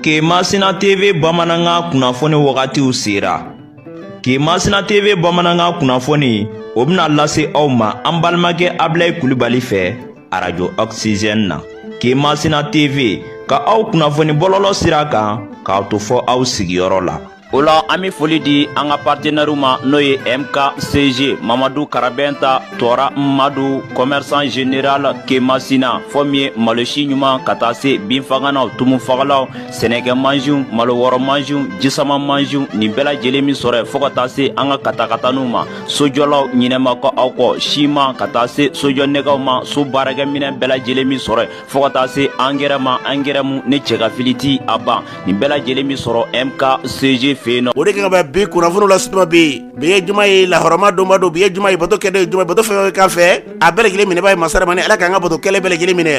Kemasina TV bamanankan kunnafoni wagatiw sera. Kemasina TV bamanankan kunnafoni o bɛna lase aw ma an balimakɛ Abilayi Kulibali fɛ arajo Oxygène na. Kemasina TV ka aw kunnafoni bɔlɔlɔ sira kan k'aw to fɔ aw sigiyɔrɔ la. o la an be foli di an ka partenɛriw ma n'o ye mkcg mamadu karabɛnta tɔɔra madu kɔmɛrisan general kemasina fɔ min ye malosi ɲuman ka taa se binfaganaw tumufagalaw sɛnɛkɛ mansiw malo wɔrɔ mansiw jisama mansiw nin bɛɛ lajɛlen be sɔrɔ yen fɔɔ ka taa se an ka katakataniw ma sojɔlaw ɲinɛ ma kɛ aw kɔ siman ka taa se sojɔ nɛgɛw ma so baarakɛminɛn bɛɛ lajɛlen be sɔrɔ yen fɔɔ ka taa se angɛrɛ ma angɛrɛ mu ni cɛgafili ti a ban nin bɛɛ lajɛlen be sɔrɔ mkcg fɛ yen nɔ o de kan ka bɛ bi kunnafoniw lase tuma be yen bi ye juma ye lahɔrɔma donba don bi ye juma ye bato kɛdon ye juma bato fɛn kan fɛ a bɛɛ lajɛlen minɛbaa ye masa ramani ala k'an ka bato kɛlen bɛɛ lajɛlen minɛ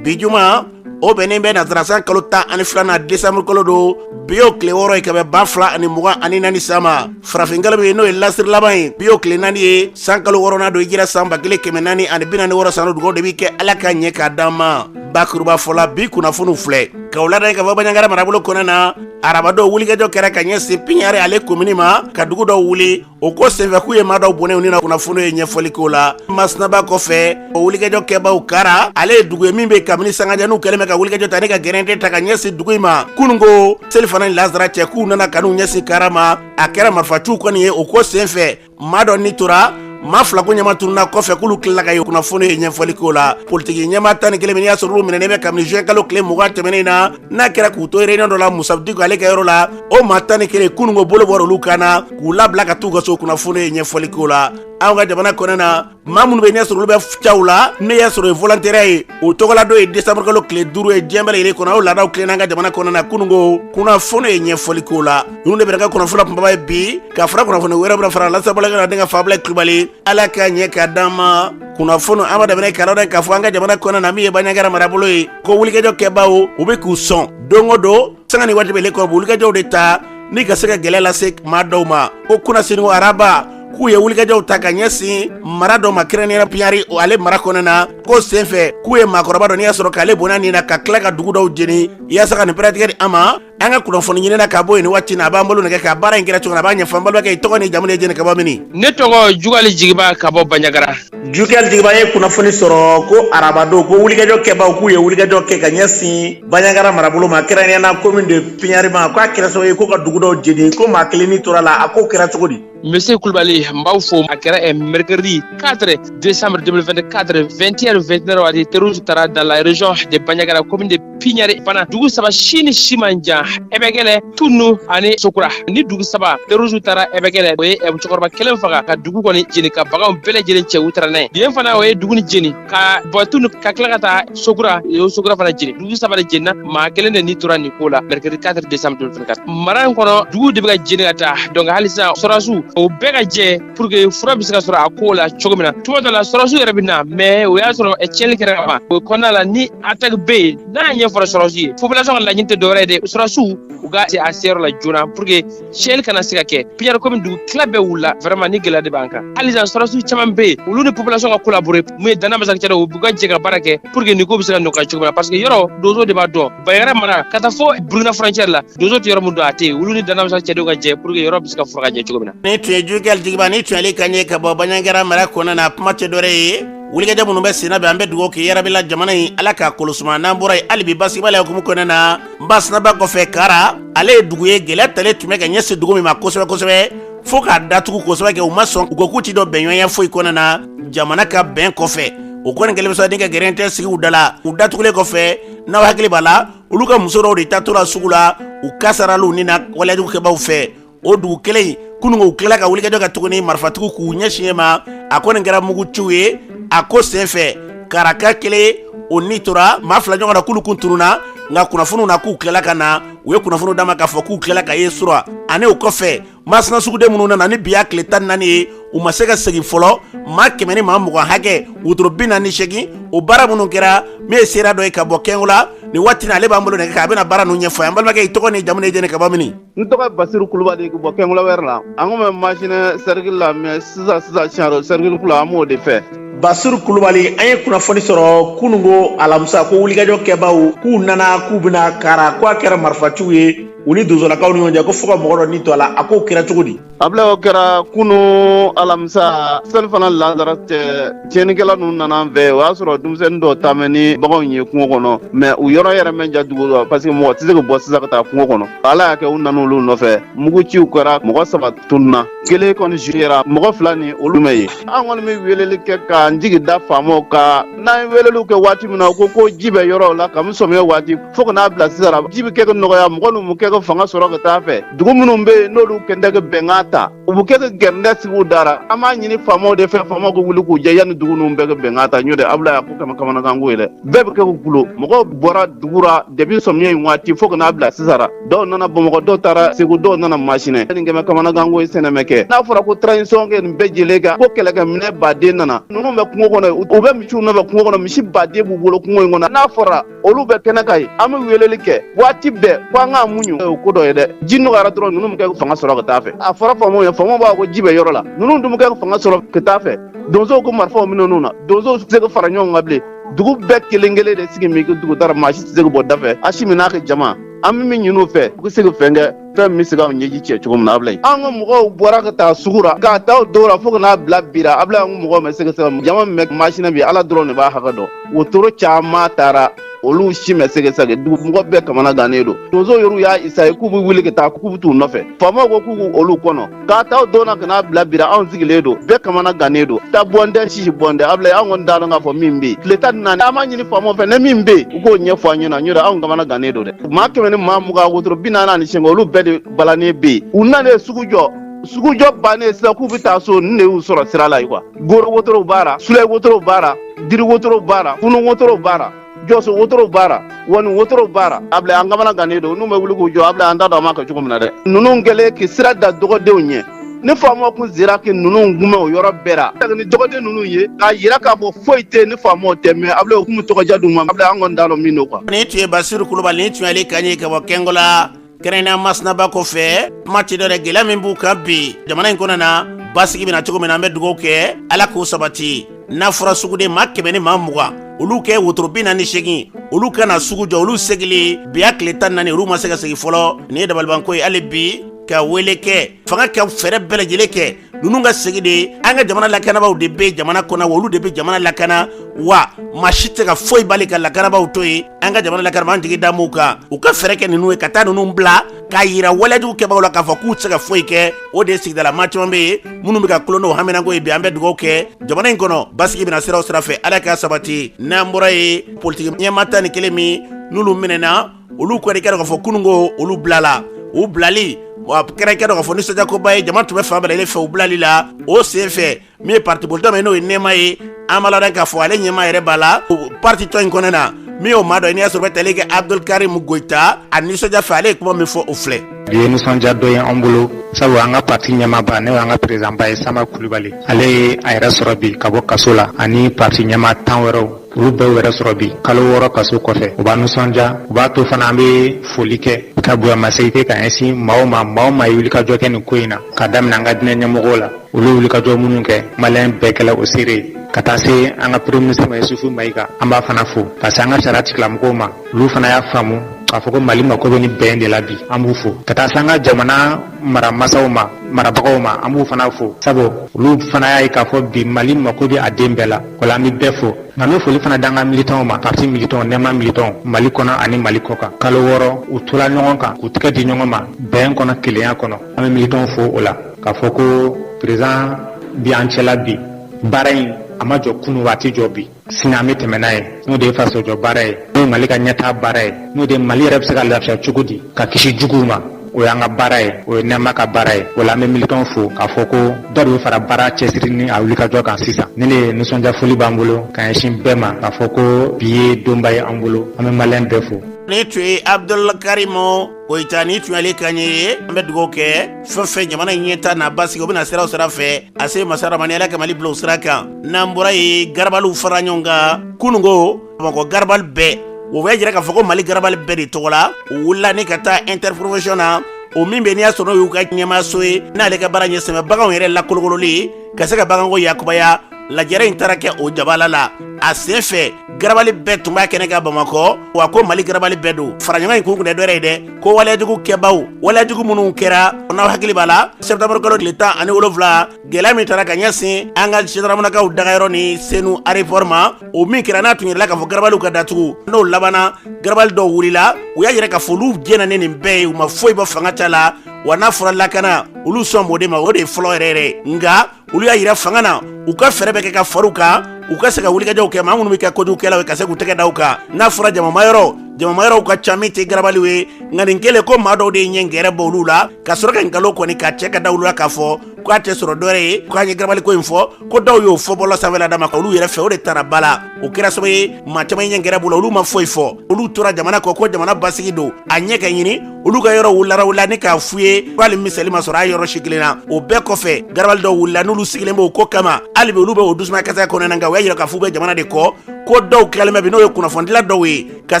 bi juma o bɛnnen bɛ nasarasan kalo tan ani filanan desanburu kalo don bi y'o tile wɔɔrɔ ye ka bɛn ba fila ani mugan ani naani san ma farafinkalo min ye n'o ye lasiri laban ye bi y'o tile naani ye san kalo wɔɔrɔnan don hijira san ba kelen kɛmɛ naani ani bi naani wɔɔrɔ san o dugaw de bi kɛ ala k'a ɲɛ k'a d'an ma bakurubafɔ la bi kunnafoniw filɛ k'aw ladɔnniya k'a fɔ baɲangara marabolo kɔnɔ na arabadon wulikajɔ kɛra ka ɲɛsin piɲari ale komini ma ka dugu dɔw wuli o ko senfɛ k'u ye maa dɔw bɔnɛ u ni na kunnafoni ye ɲɛfɔli k'o la masinaba kɔfɛ o wulikajɔ kɛbaaw kara ale ye dugu ye min bɛ kabini sanga jan u kɛlen bɛ ka wulikajɔ ta ni ka gɛrɛntɛ ta ka ɲɛsin dugu in ma kunun ko selifana ni lazara cɛ k'u nana ka n'u ɲɛsin kara ma a kɛra marifaciw kɔni ye o ko senfɛ maa dɔ ni tora maa fila ko ɲɛma tununa kɔfɛ k'olu tilala ka ye kunnafoni ye ɲɛfɔli k'o la politiki ɲɛmaa tan ni kelen min y'a sɔrɔ olu minɛnen bɛ kabini juin kalo tile mugan tɛmɛnen na n'a kɛra k'u to réunion dɔ la musa diko ale ka yɔrɔ la o maa tan ni kelen kunun ko bolo bɔra olu kan na k'u labila ka t'u ka so kunnafoni ye ɲɛfɔli k'o la anw ka jamana kɔnɔ na maa minnu bɛ n'i y'a sɔrɔ olu bɛ caw la n'i y'a sɔrɔ ye volontaire ye o tɔgɔladon ye décembre kalo tile duuru ye diɲɛ bɛɛ lajɛlen kɔnɔ o laadaw tilenna an ka jamana kɔnɔ na kunun ko kunnafoni ye ɲɛfɔli k'o la ninnu de bɛna kɛ kunnafoni kunbaba ye bi ka fara kunnafoni wɛrɛ bɛna fara lasabalakɛ na denkɛ fa abilayi kulubali ala k'a ɲɛ k'a d'an ma kunnafoni an b'a daminɛ k'aw ladɔnniya k'a fɔ an ka jamana kɔnɔ na min ye baɲangara marabolo ye ko wulikajɔ kɛbaaw u bɛ k'u sɔn don o don sanga ni waati bɛɛ la ka wulikajɔw de ta ni ka se ka gɛlɛya lase maa dɔw ma ko kunasini ko araba k'u ye wulikajɔw ta ka ɲɛsin mara dɔ ma kɛrɛnnenya piɲari o ale mara kɔnɔ na ko senfɛ k'u ye maakɔrɔba dɔ n'i y'a sɔrɔ k'ale bɔnɛ a nin na ka tila ka dugu dɔw jeni yaasa ka nin pɛrɛtigɛ di an ma an ka kunnafoni ɲinina ka bɔ yen nin waati na a b'an bolo nɛgɛ kan baara in kɛra cogo na a b'a ɲɛfɔ an balimakɛ i tɔgɔ ni jamu ni jɛnɛ ka bɔ mini ne tɔgɔ jugali jigiba ka bɔ banjagara jugali jigiba n ye kunnafoni sɔrɔ ko arabadon ko wulikajɔ kɛbaaw k'u ye wulikajɔ kɛ ka ɲɛsin banjagara marabolo ma kɛrɛnkɛrɛnnenya komin de piɲari ma k'a kɛra sababu ye ko ka dugu dɔw jeni ko maa kelen ni tora la a ko kɛra cogo di Monsieur Koulibaly n b'aw fo a kɛra ɛ mercredi 4 décembre 2024 21h29 waati terroriste taara dans la région de Bandiagara commune de Pignari fana dugu saba si ni si man jan Ɛbɛkɛlɛ Tunu ani Sokura nin dugu saba terroriste taara Ɛbɛkɛlɛ o ye cɛkɔrɔba kelen faga ka dugu kɔni jeni ka baganw bɛɛ lajɛlen cɛ u taara n'a ye yen fana o ye dugu nin jeni ka bɔ Tunu ka tila ka taa Sokura o Sokura fana jeni dugu saba de jenina maa kelen de ni tora nin ko la mercredi 4 décembre 2024 mara in kɔnɔ dugu de bɛ ka jeni ka taa donc hali sisan sɔrɔdasiw o bɛɛ ka jɛ pour que fura bɛ se ka sɔrɔ a ko la cogo min na tuma dɔ la sɔrɔdasiw yɛrɛ bɛ na mais o y'a sɔrɔ tiɲɛni kɛra ka ban o kɔnɔna la ni attaque bɛ yen n'a ɲɛfɔra sɔrɔdasiw ye population ka laɲini tɛ dɔwɛrɛ ye dɛ sɔrɔdasiw u ka se a seyɔrɔ la joona pour que tiɲɛli kana se ka kɛ Pignari commune dugu tila bɛɛ wulila vraiment nin gɛlɛya de b'an kan hali sisan sɔrɔdasiw caman bɛ yen olu ni population ka collaborer mun ye Dana Amasagu cɛdenw u ka jɛ ka baara kɛ pour que nin ko bɛ se ka nɔgɔya cogo min na parce que yɔrɔ dozo de b'a dɔn Bandiagara mara ka taa fɔ Burkina frontière la dozo tɛ yɔrɔ min dɔn a tɛ yen olu ni Dana Amasagu cɛdenw ka jɛ pour que yɔrɔ bɛ se ka furan ka jɛ cogo min na nin tun ye Jugali Jigiba nin tun y'ale kan ye ka bɔ Bandiagara mara kɔnɔna na kuma tɛ dɔwɛrɛ ye wulikajɔ minnu bɛ senna bɛ an bɛ dugawu kɛ yarabi ala jamana in ala k'a kolosuma n'an bɔra yen hali bi basigibaliya hukumu kɔnɔna na masina ba kɔfɛ kara ale ye dugu ye gɛlɛya talen tun bɛ ka ɲɛsin dugu min ma kosɛbɛ kosɛbɛ fo k'a datugu kosɛbɛ kɛ u ma sɔn u ko k'u tɛ don bɛnɲɔgɔnya foyi kɔnɔna na jamana ka bɛn kɔfɛ o kɔni kɛlen bɛ sɔrɔ de ka gɛrɛntɛ sigi u da la u datugulen kɔfɛ n'aw hakili b'a la olu ka muso dɔw de taatɔla sugu la u kasaralen nana waleyajugu kɛbaaw fɛ o dugu kelen in kunungo u tilala ka wulikajɔ kɛ tuguni marifatigiw k'u ɲɛsin u ma a ko nin kɛra muguciw ye a ko senfɛ karaka kelen o ni tora maa fila ɲɔgɔnna k'olu kun tununna nka kunnafoniw na k'u tilala ka na u ye kunnafoniw d'an ma k'a fɔ k'u tilala ka ye sura ani o kɔfɛ masina suguden minnu nana ni bi y'a tile tan ni naani ye u ma se ka segin fɔlɔ maa kɛmɛ ni maa mugan hakɛ wotoro bi naani ni seegin o baara minnu kɛra min ye seere dɔ ye ka bɔ kɛngola nin waati in na ale b'an bolo nɛgɛ kan a bɛna baara ninnu ɲɛfɔ an balimakɛ i tɔgɔ n'i jamu ni jɛni ka bɔ mini n tɔgɔ basiru kulubali ka bɔ kɛngola wɛrɛ la an ko bɛ masina sɛrikili la mɛ sisan sisan siyaro sɛrikili kura an b'o de fɛ basiru kulubali an ye kunnafoni sɔrɔ kunungo alamisa ko wulikajɔ kɛbaaw k'u nana k'u binna kara ko a kɛra marifaciw ye u ni donsolakaw ni ɲɔgɔn cɛ ko fo ka mɔgɔ dɔ ni to a la a ko kɛra cogo di Abila o kɛra kunun alamisa selifana lasara cɛ tiɲɛnikɛla ninnu nana an fɛ o y'a sɔrɔ denmisɛnnin dɔw taamɛ ni baganw ye kungo kɔnɔ mɛ u yɔrɔ yɛrɛ man jan dugu la parce que mɔgɔ tɛ se ka bɔ sisan ka taa kungo kɔnɔ ala y'a kɛ u nana olu nɔfɛ muguciw kɛra mɔgɔ saba tununna kelen kɔni su yera mɔgɔ fila nin olu ma ye an kɔni bɛ weleli kɛ k'an jigi da faamaw kan n'an ye weleli kɛ waati min na u ko ko ji bɛ yɔrɔ la ka sɔ waati fo ka n'a bila sisan ji bɛ kɛ ka nɔgɔya mɔgɔ ninnu bɛ kɛ ka fanga sɔrɔ ka taa fɛ dugu minnu bɛ yen n'olu kɛntɛ ka bɛnkan ta u bɛ kɛ ka gɛrɛntɛ sigi u da ra an b'a ɲini faamaw de fɛ faamaw ka wuli k'u jɔ yanni dugu ninnu bɛɛ ka bɛnkan ta n'o tɛ Ablaye a ko kama kamanaganko ye dɛ bɛɛ bɛ kɛ ka kulo mɔgɔw bɔra dugu la depuis sɔmiya in waati fo ka n'a bila sisan dɔw nana bamakɔ dɔw taara segu dɔw nana masinɛ nin kɛmɛ kamanaganko ye sɛnɛ mɛ kɛ n'a fɔra ko transition kɛ nin bɛɛ jɛlen kan ko kɛlɛkɛminɛ baden nana ninnu bɛ kungo kɔnɔ u bɛ misiw nɔfɛ kungo kɔnɔ misi baden b'u bolo kungo in kɔnɔ n'a fɔra olu bɛ kɛnɛ kan yen an bɛ weleli kɛ waati bɛɛ ko an k'a muɲu o ko dɔ ye dɛ ji nɔgɔyara dɔrɔn ninnu bɛ kɛ ka fanga sɔrɔ ka taa fɛ a fɔra faamaw ye faamaw b'a ko ji bɛ yɔrɔ la ninnu dun bɛ kɛ ka fanga sɔrɔ ka taa fɛ donsow ko marifaw minɛ ninnu na donsow tɛ se ka fara ɲɔgɔn kan bilen dugu bɛɛ kelen kelen de sigi min dugu da ra maa si tɛ se ka bɔ da fɛ a si min n'a ka jama an bɛ min ɲin'u fɛ u ka se ka fɛn kɛ fɛn min bɛ se ka ɲɛji cɛ cogo min na Ablaye an ka mɔgɔw bɔra ka taa sugu la k'a ta o don la fo ka n'a bila bi la Ablaye an ka mɔgɔw ma se ka segi jama min bɛ masina bi Ala dɔrɔn de b'a hakɛ dɔn wotoro caman taara olu si ma se ka segi dugu mɔgɔ bɛɛ kamana gannen don donsow yɛrɛw y'a essayer k'u bɛ wuli ka taa k'u bɛ t'u nɔfɛ faamaw ko k'u k'u olu kɔnɔ k'a ta o don na ka n'a bila bi ra anw sigilen don bɛɛ kamana gannen don ta bɔn tɛ sisi bɔn tɛ Ablaye anw kɔni t'a dɔn k'a fɔ min bɛ yen tile tan naani an b'a ɲini faamaw fɛ ni min bɛ yen u k'o ɲɛfɔ an ɲɛ na n'o tɛ anw kamana gannen don dɛ maa kɛmɛ ni maa mugan wotoro bi naani ani seegin olu bɛɛ de balannen bɛ yen u nana ye sugu jɔ sugujɔ bannen sisan k'u bɛ taa so nin de y'u sɔrɔ sira la ye quoi goro wotorow b'a la sule wotorow b'a la diri wotorow b'a la kunun wotorow b'a la jɔso wotorow b'a ra wani wotorow b'a ra Ablaye an kamana gannen don n'u bɛ wuli k'u jɔ Ablaye an t'a dɔn an b'a kɛ cogo min na dɛ ninnu kɛlen k'i sira da dɔgɔdenw ɲɛ ni faamaw kun sera ki ninnu kunbɛn o yɔrɔ bɛɛ la ni dɔgɔden ninnu ye k'a yira k'a fɔ foyi tɛ ni faamaw tɛ mɛ Ablaye o kun bɛ tɔgɔja d'u ma Ablaye an kɔni t'a dɔn min don quoi nin tun ye basiru kulubali nin tun ye ale kan ye ka bɔ kɛngola kɛrɛnnenya masina ba kɔfɛ kuma tɛ dɔ wɛrɛ gɛlɛya min b'u kan bi jamana in kɔnɔna basigi bɛ na cogo min na an bɛ dugawu kɛ ala k'o sabati n'a fɔra suguden maa kɛmɛ ni maa mugan olu ka wotoro bi naani segin olu ka na sugu jɔ olu segili bi y'a tile tan naani olu ma se ka segin fɔlɔ nin ye dabalibanko ye hali bi ka wele kɛ fanga ka fɛɛrɛ bɛɛ lajɛlen kɛ ninnu ka segi dɛ an ka jamana lakanabaaw de bɛ jamana kɔnɔ wa olu de bɛ jamana lakana wa maa si tɛ se ka foyi bali ka lakanabaaw to yen an ka jamana lakanabaaw an jigi dalen b'u kan u ka fɛɛrɛ kɛ ninnu ye ka taa ninnu bila k'a yira walejugu kɛbagaw la k'a fɔ k'u tɛ se ka foyi kɛ o de ye sigida la maa caman bɛ yen minnu bɛ ka kulo n'o haminanko ye bi an bɛ dugawu kɛ jamana in kɔnɔ basigi bɛ na sira o sira fɛ ala k'a sabati n'an bɔra yen politiki ɲɛmaa tan ni kelen min n'olu minɛna olu kɛra i k'a dɔn k'a fɔ kunun ko olu bilala u bilali wa kɛra i k'a dɔn k'a fɔ nisɔndiyakoba ye jama tun bɛ fan bɛɛ lajɛlen fɛ u bilali la o sen fɛ min ye parti politiki min n'o ye nɛɛma ye an b'a ladɔn k'a fɔ ale ɲɛmaa yɛrɛ b'a la o partitɔn in kɔnɔna min y'o maa dɔ ye n'i y'a sɔrɔ bɛ tali kɛ abdul karim goyita a nisɔndiya fɛ ale ye kuma min fɔ o filɛ bi ye nisɔndiya don ye an bolo sabu an ka parti ɲɛmaaba n'o y'an ka peresidanba ye samba kulubali ale ye a yɛrɛ sɔrɔ bi ka bɔ kaso la ani parti ɲɛmaa tan wɛrɛw olu bɛɛ yɛrɛ sɔrɔ bi kalo wɔɔrɔ kaso kɔfɛ o b'an nisɔndiya o b'a to fana an bɛ foli kɛ ka bonyamasegin kɛ ka ɲɛsin maa o maa maa o maa ye wulikajɔ kɛ nin ko in na ka daminɛ an ka diinɛ ɲɛmɔgɔw la olu wulikajɔ minnu kɛ maliyɛn bɛɛ kɛla o seere ye ka taa se an ka premier ministre ma Yusufu Mayiga an b'a fana fo ka se an ka sariya tigilamɔgɔw ma olu fana y'a faamu k'a fɔ ko Mali mako bɛ nin bɛn de la bi an b'u fo ka taa se an ka jamana maramasaw ma marabagaw ma an b'u fana fo sabu olu fana y'a ye k'a fɔ bi Mali mako bɛ a den bɛɛ la O la an bɛ bɛɛ fo nka an bɛ foli fana d'an ka militants ma parti militants nɛma militants mali kɔnɔ ani mali kɔ kan kalo wɔɔrɔ u tola ɲɔgɔn kan k'u tɛgɛ di ɲɔgɔn ma bɛn kɔnɔ kelenya kɔnɔ an bɛ militants fo o la k'a fɔ ko président b'an cɛla bi baara in a ma jɔ kunu wa a tɛ jɔ bi sini an bɛ tɛmɛ n'a ye n'o de ye fasojɔ baara ye n'o ye mali ka ɲɛtaa baara ye n'o de mali yɛrɛ bɛ se ka lafiya cogo di ka kisi juguw ma o y'an ka baara ye o ye nɛma ka baara ye o la an bɛ militants fo k'a fɔ ko dɔ de bɛ fara baara cɛsiri ni a wulikajɔ kan sisan nin de ye nisɔndiyafoli b'an bolo ka ɲɛsin bɛɛ ma k'a fɔ ko bi ye donba ye an bolo an bɛ maliyɛn bɛɛ fo nin tun ye abudul karimu koyita nin tun y'ale kan ye an bɛ dugawu kɛ fɛn fɛn jamana in ɲɛtaa n'a basigi o bɛna sira o sira fɛ a se masa ramani ala ka mali bila o sira kan n'an bɔra yen garabaliw fara ɲɔgɔn kan kununko bamakɔ garabali bɛɛ o b'a jira k'a fɔ ko mali garabali bɛɛ de tɔgɔ la u wulila ni ka taa interprofession na o min bɛ n'i y'a sɔrɔ n'o y'u ka ɲɛmaaso ye n'ale ka baara ɲɛsinnen bɛ baganw yɛrɛ lakolokololi ka se ka baganko yakubaya lajɛrɛ in taara kɛ o jabala la a sen fɛ garabali bɛɛ tun b'a kɛnɛ kan bamakɔ wa ko mali garabali bɛɛ don faraɲɔgɔn in kun kun tɛ dɔ wɛrɛ ye dɛ ko waleyajugu kɛbaw waleyajugu minnu kɛra n'aw hakili b'a la sɛbtanburukalo tile tan ani wolonfila gɛlɛya min taara ka ɲɛsin an ka zandaramanakaw dagayɔrɔ ni senu aéroport ma o min kɛra n'a tun yirala k'a fɔ garabaliw ka datugu n'o labanna garabali dɔw wulila u y'a yira k'a fɔ olu jɛnna ni nin bɛɛ ye u ma foyi bɔ fanga ta la wa n'a fɔra lakana olu sɔn b'o de ma o de ye fɔlɔ yɛrɛ yɛrɛ nka olu y'a yira fanga na u ka fɛɛrɛ bɛɛ kɛ ka far'u kan u ka se ka wulikajɔw kɛ maa minnu bɛ kɛ kojugukɛlaw ye ka se k'u tɛgɛ da u kan n'a fɔra jamamayɔrɔ jamamayɔrɔw ka ca min tɛ garabaliw ye nka nin kɛlen ko maa dɔw de ye ɲɛ gɛrɛ bɔ olu la ka sɔrɔ ka nkalon kɔni ka cɛ ka da olu la k'a fɔ k'a tɛ sɔrɔ dɔ wɛrɛ ye k'an ye garabali ko in fɔ ko dɔw y'o fɔ bɔlɔ sanfɛla dama ka olu yɛrɛ fɛ o de taara ba la o kɛra sababu ye maa caman ɲɛ gɛrɛ b'u la olu ma foyi fɔ olu tora jamana kɔ ko jamana basigi don a ɲɛ ka ɲini olu ka yɔrɔ wulara wula ni k'a f'u ye ko hali miseli ma sɔrɔ a yɔrɔ si kelen na o bɛɛ kɔfɛ garabali dɔw wulila n'olu sigilen b'o ko kama hali bi olu bɛ o dusumakasi kɔnɔna nka u y'a yira k'a f'u bɛ jamana de kɔ ko dɔw tilalen bɛ bi n'o ye kunnafonidila dɔw ye ka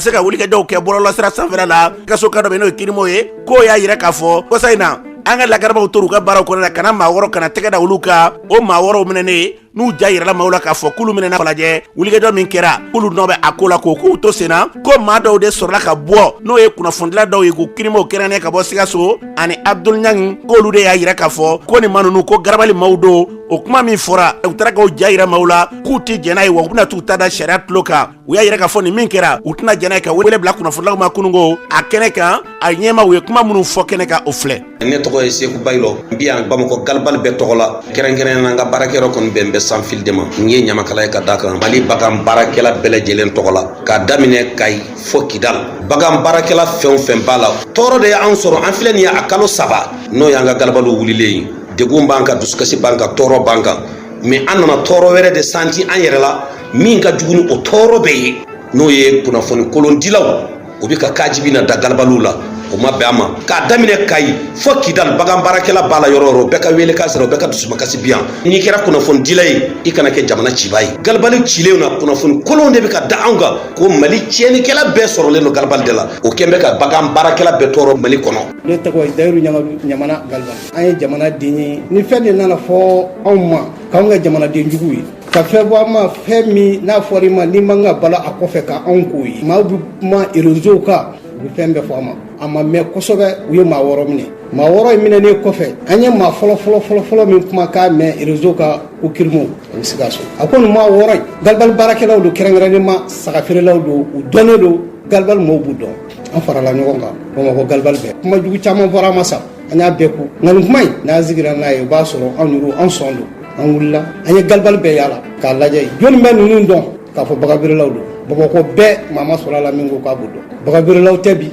se ka wulikajɔw kɛ bɔlɔlɔsira sanfɛla la sikaso ka dɔ bɛ n'o ye kirimo ye k'o y'a yira k'a fɔ kɔsa in na an ka lakanabaw tora u ka baaraw kɔnɔna ka na maa wɔɔrɔ ka na tɛgɛ da olu kan o maa wɔɔrɔw minɛnen n'u ja yirala maaw la k'a fɔ k'olu minɛna falajɛ wulikajɔ min kɛra k'olu nɔ bɛ a ko la ko k'u to sen na ko maa dɔw de sɔrɔla ka bɔ n'o ye kunnafonidila dɔw ye ko kirimo kɛrɛnnen ka bɔ sikaso ani abudul ɲangi k'olu de y'a yira k'a fɔ ko nin maa ninnu ko garabali maaw don o kuma min fɔra u taara k'u ja yira maaw la k'u tɛ jɛn n'a ye wa u bɛna t'u ta da sariya tulo kan u y'a yira k'a fɔ nin min kɛra u tɛna jɛn n'a ye ka wele bila kunnafonilaw ma kunungo a kɛnɛ kan a ɲɛma u ye kuma minnu fɔ kɛnɛ kan o filɛ ne tɔgɔ ye seku bayilɔ n bi yan bamakɔ galibali bɛɛ tɔgɔ la kɛrɛnkɛrɛn na n ka baarakɛyɔrɔ kɔni bɛn bɛ sanfili de ma n ye ɲamakala ye ka da kan mali bagan baarakɛla bɛɛ lajɛlen tɔgɔ la k'a daminɛ kayi fo kidal bagan baarakɛla fɛn o fɛn b'a la tɔɔrɔ de y'an sɔrɔ an filɛ nin ye a kalo saba n'o y'an ka galibaliw wulilen ye degun b'an kan dusukasi b'an kan tɔɔrɔ b'an kan mais an nana tɔɔrɔ wɛrɛ de santi an yɛrɛ la min ka jugu ni o tɔɔrɔ bɛɛ ye n'o ye kunnafoni kolondilaw o bɛ ka kajibi na da galibaliw la o ma bɛn an ma k'a daminɛ kayi fo kidali bagan baarakɛla b'a la yɔrɔ o yɔrɔ bɛɛ ka wele k'a sɔrɔ bɛɛ ka dusumakasi bi yan n'i kɛra kunnafonidila ye i kana kɛ jamana ciba ye galibali cilenw na kunnafoni kolon de bɛ ka da anw kan ko mali tiɲɛnikɛla bɛɛ sɔrɔlen don galibali de la o kɛlen bɛ ka bagan baarakɛla bɛɛ tɔɔrɔ mali kɔnɔ ne tɔgɔ ye dayiru ɲamana galibali an ye jamanaden ye ni fɛn de nana fɔ anw ma k'anw kɛ jamanaden jugu ye ka fɛn bɔ an ma fɛn min n'a fɔra i ma n'i man ka bala a kɔfɛ ka anw k'o ye maaw bɛ kuma réseau kan u bɛ fɛn bɛɛ fɔ an ma an m'a mɛn kosɛbɛ u ye maa wɔɔrɔ minɛ maa wɔɔrɔ in minɛnen kɔfɛ an ye maa fɔlɔ fɔlɔ fɔlɔ fɔlɔ min kumakan mɛn réseau kan ko kirimo a bɛ sikaso a ko nin maa wɔɔrɔ in galibali baarakɛlaw don kɛrɛnkɛrɛnnen ma saga feerelaw don u dɔnnen don galibali maaw b'u dɔn an farala ɲɔgɔn kan bamakɔ galibali bɛɛ kuma jugu caman fɔra an ma sa an y'a bɛɛ kun nka nin kuma in n'an sigira n'a ye o b'a sɔrɔ anw an sɔn don an wulila an ye galibali bɛɛ yaala k'a lajɛ jɔni bɛ ninnu dɔn k'a fɔ baganfeerelaw don bamakɔ bɛɛ maa ma sɔrɔ a la min ko k'a b'u dɔn baganfeerelaw tɛ bi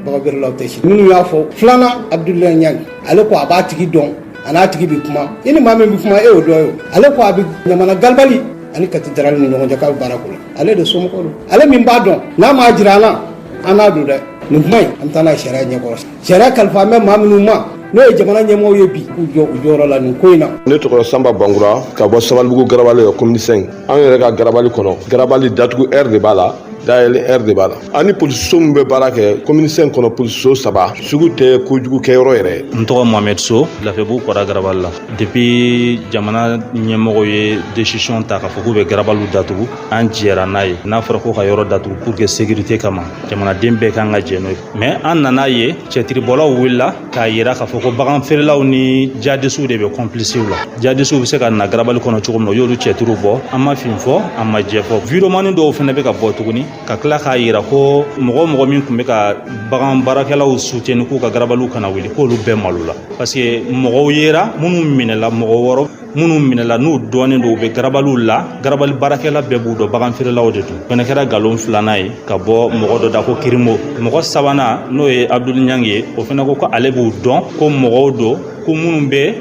baganfeerelaw tɛ sini minnu y'a fɔ filanan abudulayi ɲangi ale ko a b'a tigi dɔn a n'a tigi bɛ kuma i ni maa min bɛ kuma e y'o dɔ ye o ale ko a bɛ ɲamana galibali ani kati darali ni ɲɔgɔn cɛ k'a bɛ baara k'o la ale de somɔgɔ don ale min b'a dɔn n'a m'a jira an na an n'a don dɛ nin kuma in an bɛ taa n'a ye sariya ɲɛkɔrɔ Sariya kalifalen bɛ maa minnu ma n'o ye jamana ɲɛmɔgɔw ye bi k'u jɔ u jɔyɔrɔ la nin ko in na. Ne tɔgɔ Sanba Bangura ka bɔ Sabalibugu Garabali la commune 5 an yɛrɛ ka Garabali kɔnɔ Garabali datugu heure de b'a la dayɛlɛ heure de b'a la ani polisiso min bɛ baara kɛ commune 5 kɔnɔ polisiso saba sugu tɛ kojugu kɛyɔrɔ yɛrɛ n tɔgɔ mohamɛd so lafiyabugu kɔda garabali la depuis jamana ɲɛmɔgɔ ye décision ta k'a fɔ k'u bɛ garabaliw datugu an jɛra n'a ye n'a fɔra ko ka yɔrɔ datugu pour que sécurité kama jamanaden bɛɛ kan ka jɛ n'o ye mɛ an nan'a ye cɛtiribɔlaw wulila k'a yira k'a fɔ ko bagan feerelaw ni jadisiw de bɛ kɔnpilisiw la jadisiw bɛ se ka na garabali kɔnɔ cogo min na u y'olu cɛtiriw bɔ an ma fin fɔ an ma jɛ fɔ widewomani dɔw fana bɛ ka bɔ tuguni ka tila k'a yira ko mɔgɔ o mɔgɔ min tun bɛ ka bagan baarakɛlaw suteni k'u ka garabaliw kana wuli k'olu bɛɛ malo la parce que mɔgɔw yera minnu minɛla mɔgɔ wɔɔrɔ minnu minɛla n'u dɔnnen don u bɛ garabaliw la garabali baarakɛla bɛɛ b'u dɔn bagan feerelaw de don fɛnɛ kɛra nkalon filanan ye ka bɔ mɔgɔ dɔ da ko kirimo mɔgɔ sabanan n'o ye abudul ɲangi ye o fɛnɛ ko ko ale b'u dɔn ko mɔgɔw don ko minnu bɛ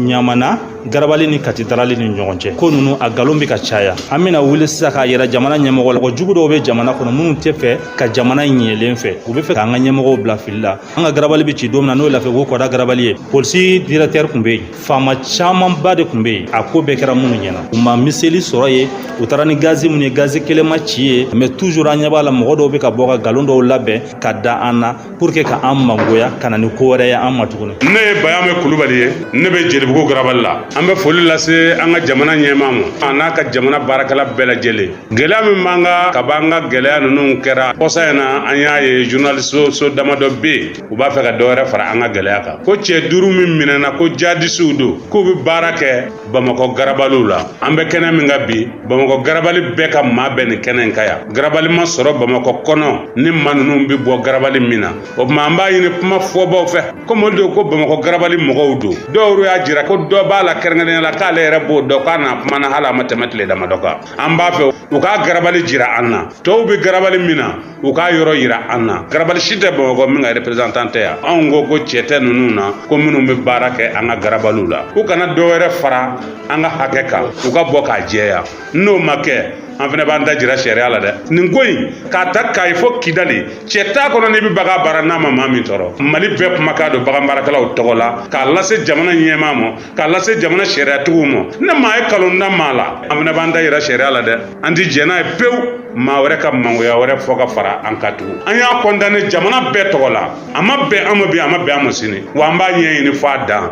ɲamana garabali ni kati darali ni ɲɔgɔn cɛ ko ninnu a nkalon bɛ ka caya an bɛna wuli sisan k'a yira jamana ɲɛmɔgɔ la mɔgɔ jugu dɔw bɛ jamana kɔnɔ minnu tɛ fɛ ka jamana ɲɛlen fɛ u bɛ fɛ k'an ka ɲɛmɔgɔw bila fili la an ka garabali bɛ ci don min na n'o ye lafiyabugu kɔda garabali ye polisi dirɛkitɛri tun bɛ yen faama camanba de tun bɛ yen a ko bɛɛ kɛra minnu ɲɛna u ma miseli sɔrɔ yen u taara ni gazi minnu ye gazi kelen ma ci yen mɛ tuzur an ɲɛ b'a la mɔgɔ dɔw bɛ ka bɔ ka nkalon dɔw labɛn ka da an na pour que ka an mangoya ka na ni ko wɛrɛ ye an ma tuguni ne ye bayamɛ kulubali ye ne bɛ jelibugu garabali la an bɛ foli lase an ka jamana ɲɛmaa ma a n'a ka jamana baarakɛla bɛɛ lajɛlen gɛlɛya min b'an kan ka b'an ka gɛlɛya ninnu kɛra kɔsa in na an y'a ye journaliste so damadɔ bɛ yen u b'a fɛ ka dɔ wɛrɛ fara an ka gɛlɛya kan ko cɛ duuru min minɛna ko jadisiw don k'u bɛ baara kɛ bamakɔ garabaliw la an bɛ kɛnɛ min kan bi bamakɔ garabali bɛɛ ka maa bɛ nin kɛnɛ in kan yan garabali ma sɔrɔ bamakɔ kɔnɔ ni maa ninnu bɛ bɔ garabali min na o tuma an b'a ɲini kuma fɔbaw fɛ komi olu don ko bamakɔ garabali mɔgɔw don dɔw y'a jira ko dɔ b'a la kɛrɛnkɛrɛnnenya la k'ale yɛrɛ b'o dɔn k'a n'a kumana hali a ma tɛmɛ tile damadɔ kan an b'a fɛ u k'a garabali jira an na tɔw bɛ garabali min na u k'a yɔrɔ yira an na garabali si tɛ bamakɔ min ka representan tɛ yan anw ko ko cɛ tɛ ninnu na ko minnu bɛ baara kɛ an ka garabaliw la u kana dɔ wɛrɛ fara an ka hakɛ kan u ka bɔ k'a jɛya n'o ma kɛ an fana b'an da jira sariya la dɛ nin ko in k'a ta kayi fo kidali cɛ t'a kɔnɔ n'i bɛ bagan baara n'a ma maa min tɔɔrɔ mali bɛɛ kumakan don bagan baarakɛlaw tɔgɔ la k'a lase jamana ɲɛmaa ma k'a lase jamana sariyatigiw ma ni maa ye kalon da maa la an fana b'an da yira sariya la dɛ an ti jɛn n'a ye pewu maa wɛrɛ ka mangoya wɛrɛ fɔ ka fara an kan tugun an y'a kɔndane jamana bɛɛ tɔgɔ la a ma bɛn an ma bi a ma bɛn an ma sini wa an b'a ɲɛɲini f'a dan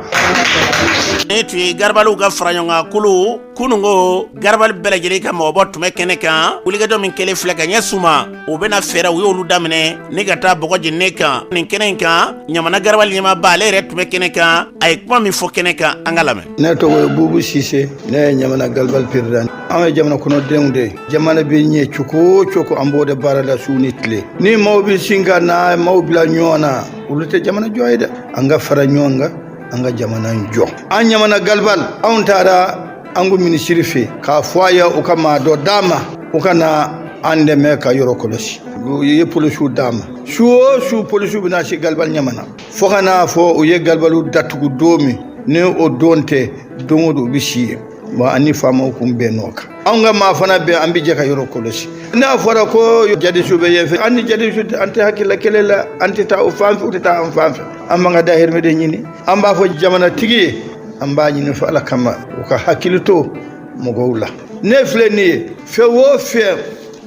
nin tun ye garabaliw ka fara ɲɔgɔn kan kulu kunun ko garabali bɛɛ lajɛlen ka mɔgɔbɔ tun bɛ kɛnɛ kan wulikajɔ min kɛlen filɛ ka ɲɛ suma u bɛna fɛɛrɛ u y'olu daminɛ ni ka taa bɔgɔ jeninen kan nin kɛnɛ in kan ɲamana garabali ɲɛmaaba ale yɛrɛ tun bɛ kɛnɛ kan a ye kuma min fɔ kɛnɛ kan an k'a lamɛn ne tɔgɔ ye bubu sise ne ye ɲamana garabali peresidan anw ye jamana kɔnɔdenw de ye jamana bɛ ɲɛ cogo o cogo an b'o de baara la su ni tile ni maaw bɛ sin ka na maaw bila ɲɔgɔn na olu tɛ jamana jɔ ye dɛ an ka fara ɲɔgɔn kan an ka jamana in jɔ an ɲamana galibal anw taara an ka minisiri fɛ k'a fɔ a ye u ka maa dɔ d'an ma u ka na an dɛmɛ ka yɔrɔ kɔlɔsi u ye polisiw d'an ma su o su polisiw bɛ na si galibal ɲamana fo ka n'a fɔ u ye galibaliw datugu don min ni o don tɛ don o don u bɛ si yen bon an ni faamaw kun bɛnn'o kan anw ka maa fana bɛ an bɛ jɛ ka yɔrɔ kɔlɔsi n'a fɔra ko jadisiw bɛ yen fɛ an ni jadisiw an tɛ hakilila kelen la an tɛ taa o fan fɛ u tɛ taa an fan fɛ an b'an ka dahirimɛ de ɲini an b'a fɔ jamanatigi ye an b'a ɲini u fɛ ala kama u ka hakili to mɔgɔw la ne filɛ nin ye fɛn o fɛn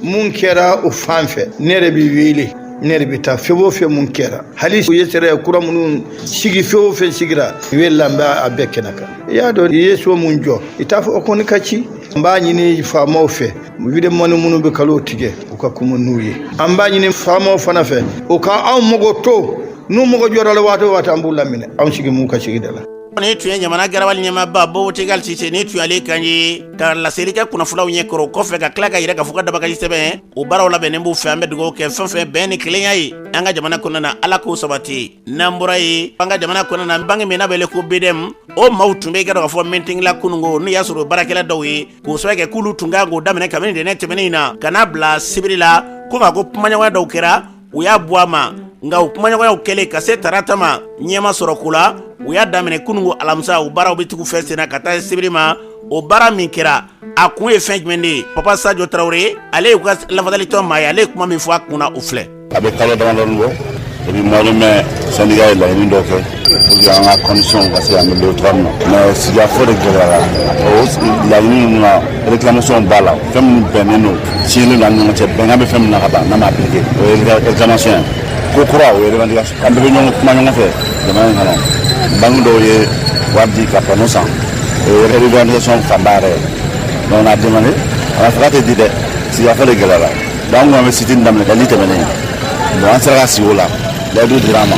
mun kɛra o fan fɛ ne yɛrɛ bɛ wele ne yɛrɛ bɛ taa fɛn o fɛn mun kɛra hali u ye sariya kura minnu sigi fɛn o fɛn sigira o la n bɛ a bɛɛ kɛnɛ kan i y'a dɔn i ye so mun jɔ i t'a fɔ o kɔni ka ci an b'a ɲini faamaw fɛ vidéoman minnu bɛ kalon tigɛ u ka kuma n'u ye an b'a ɲini faamaw fana fɛ u ka anw mago to n'u mago jɔra la waati o waati an b'u laminɛ anw sigi mun ka sigida la nin tun ye ɲamana garabali ɲɛmaaba bubu tigal sise nin tun y'ale kan ye ka laseli kɛ kunnafolaw ɲɛ kɔrɔ kɔfɛ ka tila k'a yira k'a fɔ ka dabagaji sɛbɛn o baaraw labɛnnen b'u fɛ an bɛ dugawu kɛ fɛn fɛn bɛn ni kelenya ye an ka jamana kɔnɔna na ala k'o sabati n'an bɔra yen an ka jamana kɔnɔna na banki min n'a bɛ wele ko BDM o maaw tun bɛ i k'a dɔn k'a fɔ meeting la kunungo n'o y'a sɔrɔ baarakɛla dɔw ye k'o sɛbɛ kɛ k'olu tun ka kan k'o daminɛ kabini tɛnɛ tɛmɛnen in na ka n'a bila sibiri la ko nka ko kumaɲɔgɔnya dɔw kɛra u y'a bɔ a ma nka o kumaɲɔgɔnyaw kɛlen ka se tarata ma ɲɛ ma sɔrɔ ko la u y'a daminɛ kunungo alamisa o baaraw bɛ tugu fɛn senna ka taa sibiri ma o baara min kɛra a kun ye fɛn jumɛn de ye papa sajo tarawele ale y'u ka lafasalitɔn maa ye ale ye kuma min fɔ a kunna o filɛ a bɛ kalo damadɔni bɔ depuis mois de mai sɛndika ye laɲini dɔ kɛ Pour que an ka condition ka se ka améliorer cogoya min na mais sigikafɔ de gɛlɛyara o laɲini ninnu na réclamation b'a la fɛn min bɛnnen don siɲɛlen don an ni ɲɔgɔn cɛ bɛnkan bɛ fɛn min na ka ban n'a ma appliqué o ye réclamation ye ko kura o ye revendication an bɛɛ bɛ ɲɔgɔn kuma ɲɔgɔn fɛ jamana in kɔnɔ banque dɔw ye wari di ka panneau san o ye revendication fanba yɛrɛ ye donc on a demandé a ma fɔ k'a tɛ di dɛ sigikafɔ de gɛlɛyara Dɔnku an tun bɛ sit-in daminɛ ka ni tɛmɛnen bon an sera ka sigi o la layidu dira an ma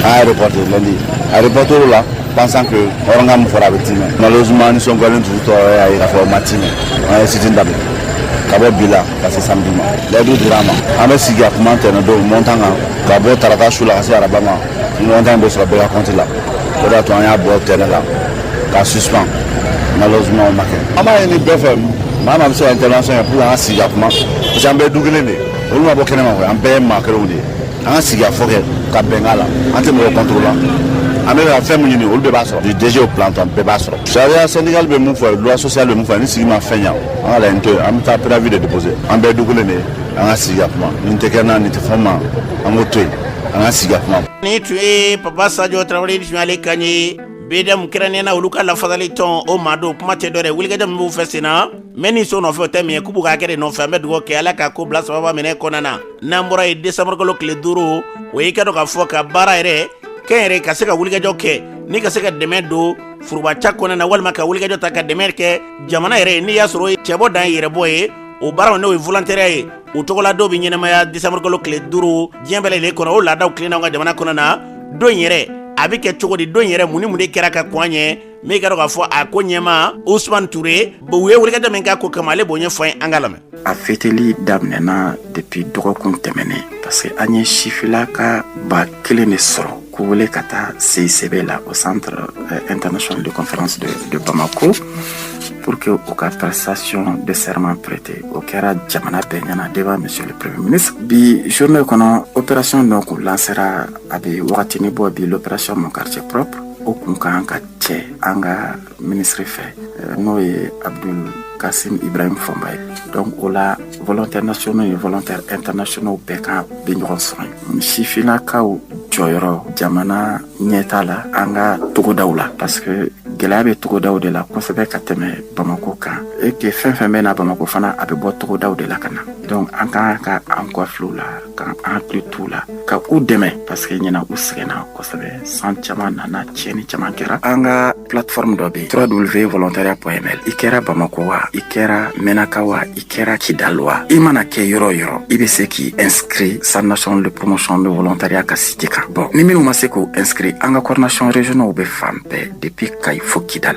an y'a reporté lɛndi an y'a reporté o la pensant que hɔrɔnkan min fɔra a bɛ timɛ malheureusement nisɔngoyalen tun tɔɔrɔ y'a ye k'a fɔ o ma timɛ an ye sit-in daminɛ ka bɔ bi la ka se samedi ma layidu dira an ma an bɛ sigi ka kuma tɛnɛ don montan kan ka bɔ tarata su la ka se araba ma montan bɛ sɔrɔ bɛɛ ka kɔnti la o de y'a to an y'a bɔ tɛnɛ la Ka suspend malheureusement o ma kɛ an b'a ɲini bɛɛ fɛ maa maa bɛ se ka intervention kɛ pour que an ka sigi ka kuma parce que an bɛɛ du kelen de ye olu ma bɔ kɛnɛma koyi an bɛɛ ye maa kelenw de ye an ka sigi ka fɔ kɛ ka bɛnkan la an tɛ mɔgɔ contre la an bɛ ka fɛn min ɲini olu bɛɛ b'a sɔrɔ du DG au planton bɛɛ b'a sɔrɔ sariya syndical bɛ mun fɔ loi sociale bɛ mun fɔ ni sigi ma fɛn ɲa an ka laɲini to yen an bɛ taa préavis de déposer an bɛɛ ye du kelen de ye an ka sigi ka kuma nin tɛ kɛ na nin tɛ fɔ ma an k'o to yen an ka sigi ka kuma. Ni tun ye papa sajo tarawele ni tun y'ale kan ye Bida kɛrɛnnen na olu ka lafasali tɔn o maa don kuma tɛ dɔwɛrɛ wulikajɔ min b'u fɛ senna mɛ ni so nɔfɛ tɛ min ye k'u b'u ka hakɛ de nɔfɛ an bɛ dugawu kɛ ala ka ko bila saba minɛ kɔnɔna na n'an bɔra yen desanburukalo tile duuru o y'i k'a dɔn k'a fɔ ka baara yɛrɛ kɛ yɛrɛ ye ka se ka wulikajɔ kɛ ni ka se ka dɛmɛ don furubaca kɔnɔna na walima ka wulikajɔ ta ka dɛmɛ kɛ jamana yɛrɛ ye n'i y'a sɔrɔ cɛbɔ dan ye yɛrɛbɔ ye o baara n'o ye volontariat ye u tɔgɔla don bɛ ɲɛnamaya desanburukalo tile duuru diɲɛ bɛɛ lajɛlen kɔnɔ o laadaw tilenna an ka jamana kɔnɔna don yɛrɛ a bɛ kɛ cogo di don yɛrɛ mun ni mun de kɛra ka kɔn a ɲɛ min ye k'a dɔn k'a fɔ a ko ɲɛmaa usman ture u ye wulikajɔ min k'a ko kama ale b'o ɲɛfɔ an ye an k'a lamɛn a feteli daminɛna depuis dɔgɔkun tɛmɛnen parce que an ye sifinnaka ba kelen de sɔrɔ K'u wele ka taa se sɛbɛn la o san ntɛnɛn sɔn de kɔnfɛransi de bamakɔ ko pour que u ka taa sayɔn de sema perete o kɛra jamana bɛɛ ɲɛnaana de b'a misili pe bi son dɔ kɔnɔ o pɛrasiɔn dɔ k'u lasera a bɛ waati wagati ni bɔ bi la pɛracɔn ma kari cɛp o tun ka kan ka cɛ an ka minisiri fɛ eh, n'o ye abdul kasim ibrahim fomba ye donc o la volontaires nationaux et volontaires internationaux bɛɛ ka bɛ ɲɔgɔn sɔrɔ yen sifinnakaw jɔyɔrɔ jamana ɲɛtaa la an ka togodaw la parce que gɛlɛya bɛ togodaw de la kosɛbɛ ka tɛmɛ bamako kan et que fɛn fɛn bɛ na bamako fana a bɛ bɔ togodaw de la ka na donc an ka kan k'an kɔ filɛ u la k'an hakili t'u la ka u dɛmɛ paske ɲinan u sɛgɛnna kosɛbɛ san caman nana tiɲɛni caman kɛra an ka platform dɔ be www volontariat point ml i kɛra bamako wa i kɛra mɛnaka wa i kɛra kidal wa i mana kɛ yɔrɔ yɔrɔ i be se k'i inscrit centre national de promotion de volontariat ka site kan bɔn ni minw ma se k'u inscrit an ka coordination régionalw be fan bɛɛ depuis kayes fo kidal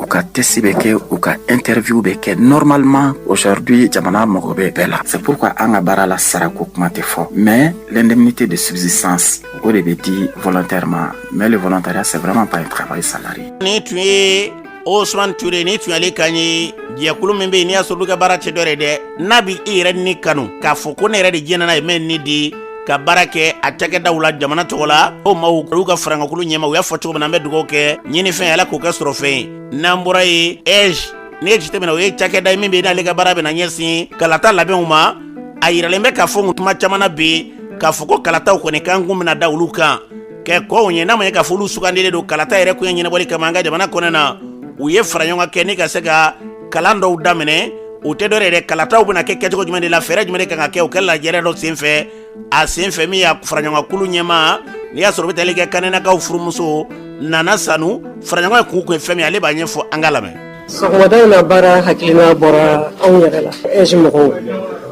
u ka tɛsi bɛ kɛ u ka e terirffinw bɛ kɛ nɔrɔmama ocaridi ye jamana mɔgɔ bɛɛ bɛɛ la sabu ka an ka baara la sarako kuma tɛ fɔ mɛ lɛnɛnɛnɛnɛnini tɛ de subisi san o de bɛ di fɔlɔntɛri ma mɛ de fɔlɔntɔya sɛbɛnbɛma ba kaba ye sari ni tun ye o suman tuure ni tun ale ka ɲɛ jɛkulu min bɛ yen n'i y'a sɔrɔ ka baara cɛ dɔ ye dɛ n'a bɛ e yɛrɛ ni kanu k'a fɔ ko ne yɛrɛ de diɲɛɲɛna ye mɛ ne de ye ka baara kɛ a cakɛdaw la jamana tɔgɔ la o maw olu ka farankan kulu ɲɛmaaw y'a fɔ cogo min na an bɛ dugawu kɛ ɲinifɛn ala k'o kɛ sɔrɔfɛn ye n'an bɔra yen AIGE n'i ye jateminɛ o ye cakɛda ye min bɛ n'ale ka baara bɛna ɲɛsin kalata labɛnw ma a yiralen bɛ k'a fɔ n tuma caman na bɛ k'a fɔ ko kalataw kɔni kan kun bɛna da olu kan kɛ ko ɲɛnama ye k'a fɔ olu sugandilen don kalata yɛrɛ koɲɛ ɲɛnabɔli kama an ka jamana kɔnɔna u ye faraɲɔgɔnkan kɛ ni ka se ka kalan dɔw daminɛ o tɛ dɔwɛrɛ ye kalataw bɛna kɛ kɛcogo jumɛn de la fɛɛrɛ jumɛn de kan ka kɛ o kɛla jɛrɛ dɔ senfɛ a senfɛ min y'a faraɲɔgɔnkulu ɲɛmaa n'i y'a sɔrɔ bɛ taali kɛ kanɛnakaw furumuso nana sanu faraɲɔgɔn ye kun kun ye fɛn min ale b'a ɲɛfɔ an ka lamɛn sɔgɔmada in na baara hakilina bɔra anw yɛrɛ la AIGE mɔgɔw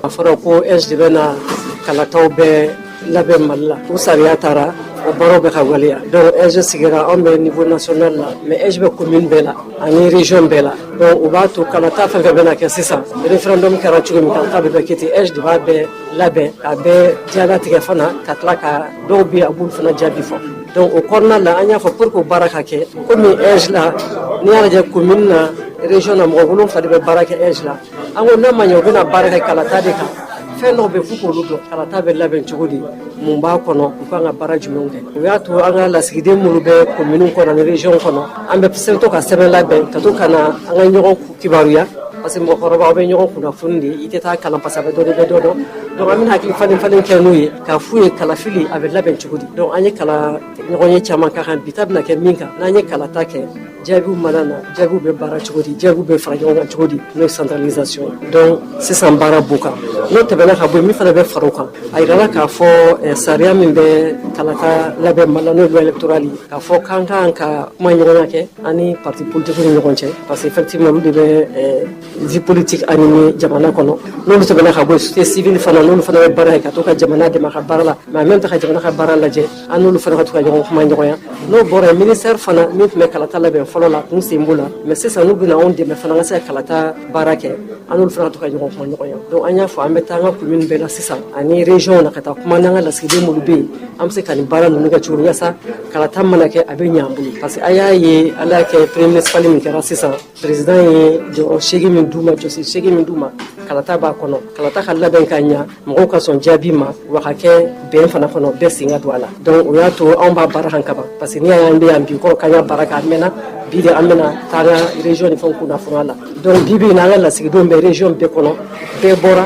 a fɔra ko AIGE de bɛna kalataw bɛɛ labɛn mali la o sariya tara o baaraw bɛ ka waleya donc AIGE sigira anw bɛ niveau national la mais AIGE bɛ commune bɛɛ la ani région bɛɛ la donc o b'a to kalata fɛn fɛn bɛna kɛ sisan référendum kɛra cogo min kalata bɛɛ bɛ kɛ ten AIGE de b'a bɛɛ labɛn k'a bɛɛ jalatigɛ fana ka tila ka dɔw bɛ a b'olu fana jaabi fɔ donc o kɔnɔna la an y'a fɔ pour que baara ka kɛ comme AIGE la n'i y'a lajɛ commune na région na mɔgɔ wolonfila de bɛ baara kɛ AIGE la An ko n'a ma ɲɛ u bɛna baara kɛ kalata de kan fɛn dɔw bɛ yen f'u k'olu dɔn kalata bɛ labɛn cogo di mun b'a kɔnɔ u kan ka baara jumɛnw kɛ o y'a to an ka lasigiden minnu bɛ kominiw kɔnɔ ni région kɔnɔ an bɛ se to ka sɛbɛn labɛn ka to ka na an ka ɲɔgɔn kibaruya parce que mɔgɔkɔrɔbaw bɛ ɲɔgɔn kunnafoni de i tɛ taa kalan parce que a bɛ dɔ de bɛ dɔ dɔn donc an bɛna hakili falen falen kɛ n'u ye k'a f'u ye kalafili a bɛ labɛn cogo di donc an ye kalan ɲɔgɔnye caman kɛ kaban bi ta bɛna kɛ min kan n'an ye kalata kɛ jaabiw mana na jaabiw bɛ baara cogo di jaabiw bɛ fara ɲɔgɔn kan cogo di n'o ye centralisation ye donc sisan baara b'u kan n'o tɛmɛna ka bɔ min fana bɛ fara o kan a yirala k'a fɔ eh, sariya min bɛ kalata labɛn mali la n'o ye électoral ye k'a fɔ k'an kan ka kumaɲɔgɔnya kɛ an ni parti politique ni ɲɔgɔn cɛ parce que effectivement olu de bɛ eh, vie politique animer jamana kɔnɔ n'olu tɛmɛna ka bɔ yen société civile fana n'olu fana bɛ baara ye ka to ka jamana dɛmɛ a ka baara la mais en même temps ka jamana ka baara lajɛ an n'olu fana ka to ka ɲɔgɔn kumaɲɔgɔnya n'o bɔra yen ministère fana min tun bɛ kalata labɛn fɔlɔ la k'u sen b'o la mais sisan n'u bɛna anw dɛmɛ fana ka se ka kalata baara kɛ an n'olu fana ka to ka ɲɔgɔn kumaɲɔgɔnya donc an y'a fɔ an bɛ taa an ka commune bɛɛ la sisan ani région na ka taa kuma n'an ka lasigiden minnu bɛ yen an bɛ se ka nin baara ninnu kɛ cogo min yaasa kalata mana kɛ a bɛ ɲɛ an bolo parce que a y'a ye ala y'a kɛ remaniement ministériel min kɛra sisan président ye jɔyɔrɔ seegin min d'u ma jɔsen seegin min d'u ma kalata b'a kɔnɔ kalata ka labɛn ka ɲɛ mɔgɔw ka sɔn jaabi ma wa kɛ bɛn fana kɔnɔ bɛɛ sen ka don a la donc o y'a to anw b'a baara kan kaban parce que n'i y'a ye an bɛ yan bi kɔrɔ ka baara kɛ a mɛnna bi de an bɛna taa région ni fɛnw kunnafoniya la donc bi bi in na an ka lasigidenw bɛ région bɛɛ kɔnɔ bɛɛ bɔra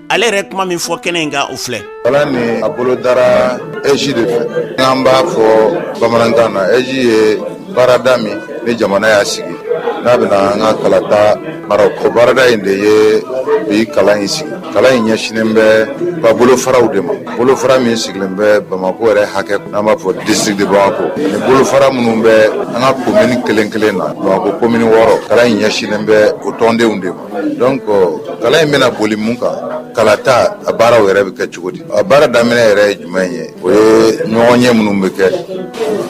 ale yɛrɛ kuma min fɔ kɛnɛ in kan o filɛ kalan nin a bolodara ezi de fɛ n'an b'a fɔ bamanankan na ezi ye baarada min ni jamana y'a sigi n'a bɛna an ka kalata mara o baarada in de ye bi kalan in sigi kalan in ɲɛsinnen b'a bolofaraw de ma bolofara min sigilen bɛ bamako yɛrɛ hakɛ n'an b'a fɔ district de bamako ni bolofara minnu bɛ an ka komini kelen kelen na bamako komini wɔɔrɔ kalan in ɲɛsinnen bɛ o tɔndenw de ma donc kalan in bɛna boli mun kan kalata a baaraw yɛrɛ bɛ kɛ cogo di a baara daminɛ yɛrɛ ye jumɛn ye o ye ɲɔgɔnye minnu bɛ kɛ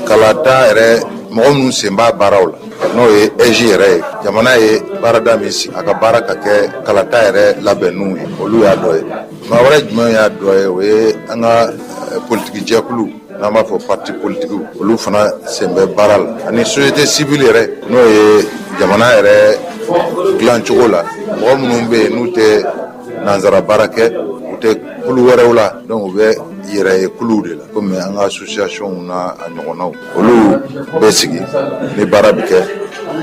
kalata yɛrɛ mɔgɔ minnu sen b'a baaraw la n'o ye ɛzi yɛrɛ ye jamana ye baarada min sigi a ka baara ka kɛ kalata yɛrɛ labɛnniw ye olu y'a dɔ ye maa wɛrɛ jumɛn y'a dɔ ye o ye an ka eh, politiki jɛkulu n'an b'a fɔ parti politikiw olu fana sen bɛ baara la ani société civile yɛrɛ n'o ye jamana yɛrɛ dilan cogo la mɔgɔ minnu bɛ yen n'u tɛ nanzara baara kɛ u tɛ kulu wɛrɛw la donc u bɛ yɛrɛ ye kuluw de la komi an ka associationw n'a ɲɔgɔnnaw olu bɛ sigi ni baara bɛ kɛ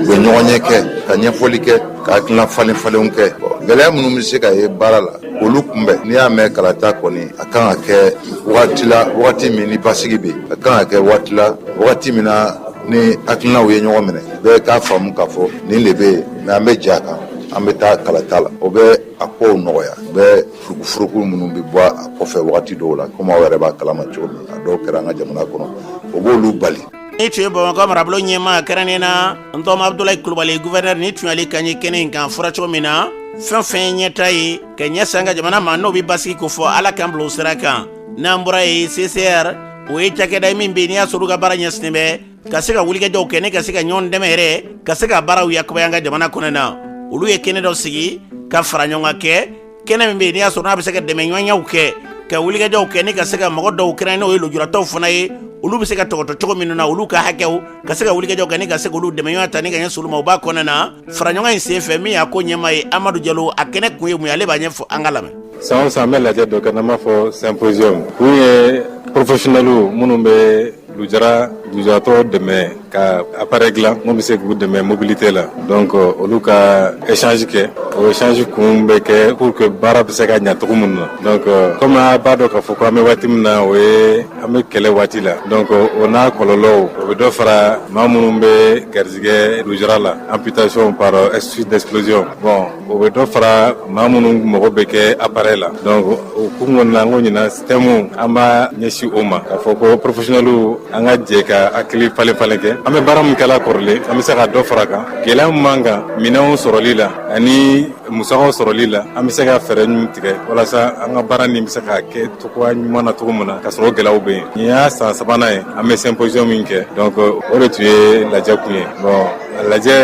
u bɛ ɲɔgɔnye kɛ ka ɲɛfɔli kɛ ka hakilina falen falenw kɛ gɛlɛya minnu bɛ se ka ye baara la olu kunbɛn n'i y'a mɛn kalata kɔni a kan ka kɛ wagati la wagati min ni basigi bɛ a kan ka kɛ wagati la wagati min na ni hakilinaw ye ɲɔgɔn minɛ bɛɛ k'a faamu k'a fɔ nin de bɛ yen mɛ an bɛ jɛ a kan an bɛ taa kalata la o bɛ a kow nɔgɔya o bɛ furukufuruku minnu bɛ bɔ a kɔfɛ wagati dɔw la komi aw yɛrɛ b'a kalama cogo min a dɔw kɛra an ka jamana kɔnɔ o b'olu bali nin tun ye bamakɔ marabolo ɲɛmaa kɛrɛnnen na n tɔma abudulayi kulubali guvɛnɛri nin tun y'ale kan ye kɛnɛ in kan fɔra cogo min na fɛn o fɛn ye ɲɛtaa ye ka ɲɛsin an ka jamana ma n'o bɛ basigi kofɔ ala k'an bila o sira kan n'an bɔra yen cicr o ye cakɛda ye min bɛ n'i y'a sɔrɔ u ka baara ɲɛsinnen bɛ ka se ka wulikajɔw kɛ ni ka se ka ɲɔgɔn dɛmɛ yɛrɛ ka se ka baaraw yakubaya an ka jamana kɔnɔ na olu ye kɛnɛ dɔ sigi ka faraɲɔgɔnkan kɛ kɛnɛ min bɛ yen n'i y'a sɔrɔ n'a bɛ se ka dɛmɛɲɔgɔnyaw kɛ ka wulikajɔw kɛ ni ka se ka mɔgɔ dɔw kɛrɛn n'o ye lujuratɔw fana ye olu bɛ se ka tɔpɔtɔ cogo minnu na olu ka hakɛw ka se ka wulikajɔw kɛ ni ka se k'olu dɛmɛɲɔgɔnya ta ni k'a ɲɛsin olu ma o b'a kɔnɔna na faraɲɔgɔn in sen fɛ min y'a ko ɲɛmaa ye amadu jalo a kɛnɛ kun ye mun ye ale b'a ɲɛfɔ an k'a lamɛn san o san an bɛ lajɛ dɔ kɛ n'an b'a fɔ symposium kun ye professionnels minnu bɛ lujara lujaratɔ dɛmɛ ka appareil dilan min bɛ se k'u dɛmɛ mobilité la donc euh, olu ka échange kɛ o échange kun bɛ kɛ pour que baara bɛ se ka ɲa cogo min na donc euh, comme a b'a dɔn k'a fɔ ko an bɛ waati min na o ye an bɛ kɛlɛ waati la donc euh, o n'a kɔlɔlɔw o bɛ dɔ fara maa minnu bɛ garijigɛ lujara la amputation par suite d'explosion bon o bɛ dɔ fara maa minnu mɔgɔ bɛ kɛ appareil la donc o kun kɔni na n ko ɲinan système an b'a ɲɛsin o ma k'a fɔ ko professionnels an ka jɛ ka hakili falen falen kɛ an bɛ baara min kɛla kɔrɔlen an bɛ se ka dɔ fara kan gɛlɛya min b'an kan minɛnw sɔrɔli la ani musakaw sɔrɔli la an bɛ se ka fɛɛrɛ ɲuman tigɛ walasa an ka baara nin bɛ se ka kɛ cogoya ɲuman na cogo min na ka sɔrɔ gɛlɛyaw bɛ yen nin y'a san sabanan ye an bɛ symposium min kɛ donc o de tun ye lajɛ kun ye bon A lajɛ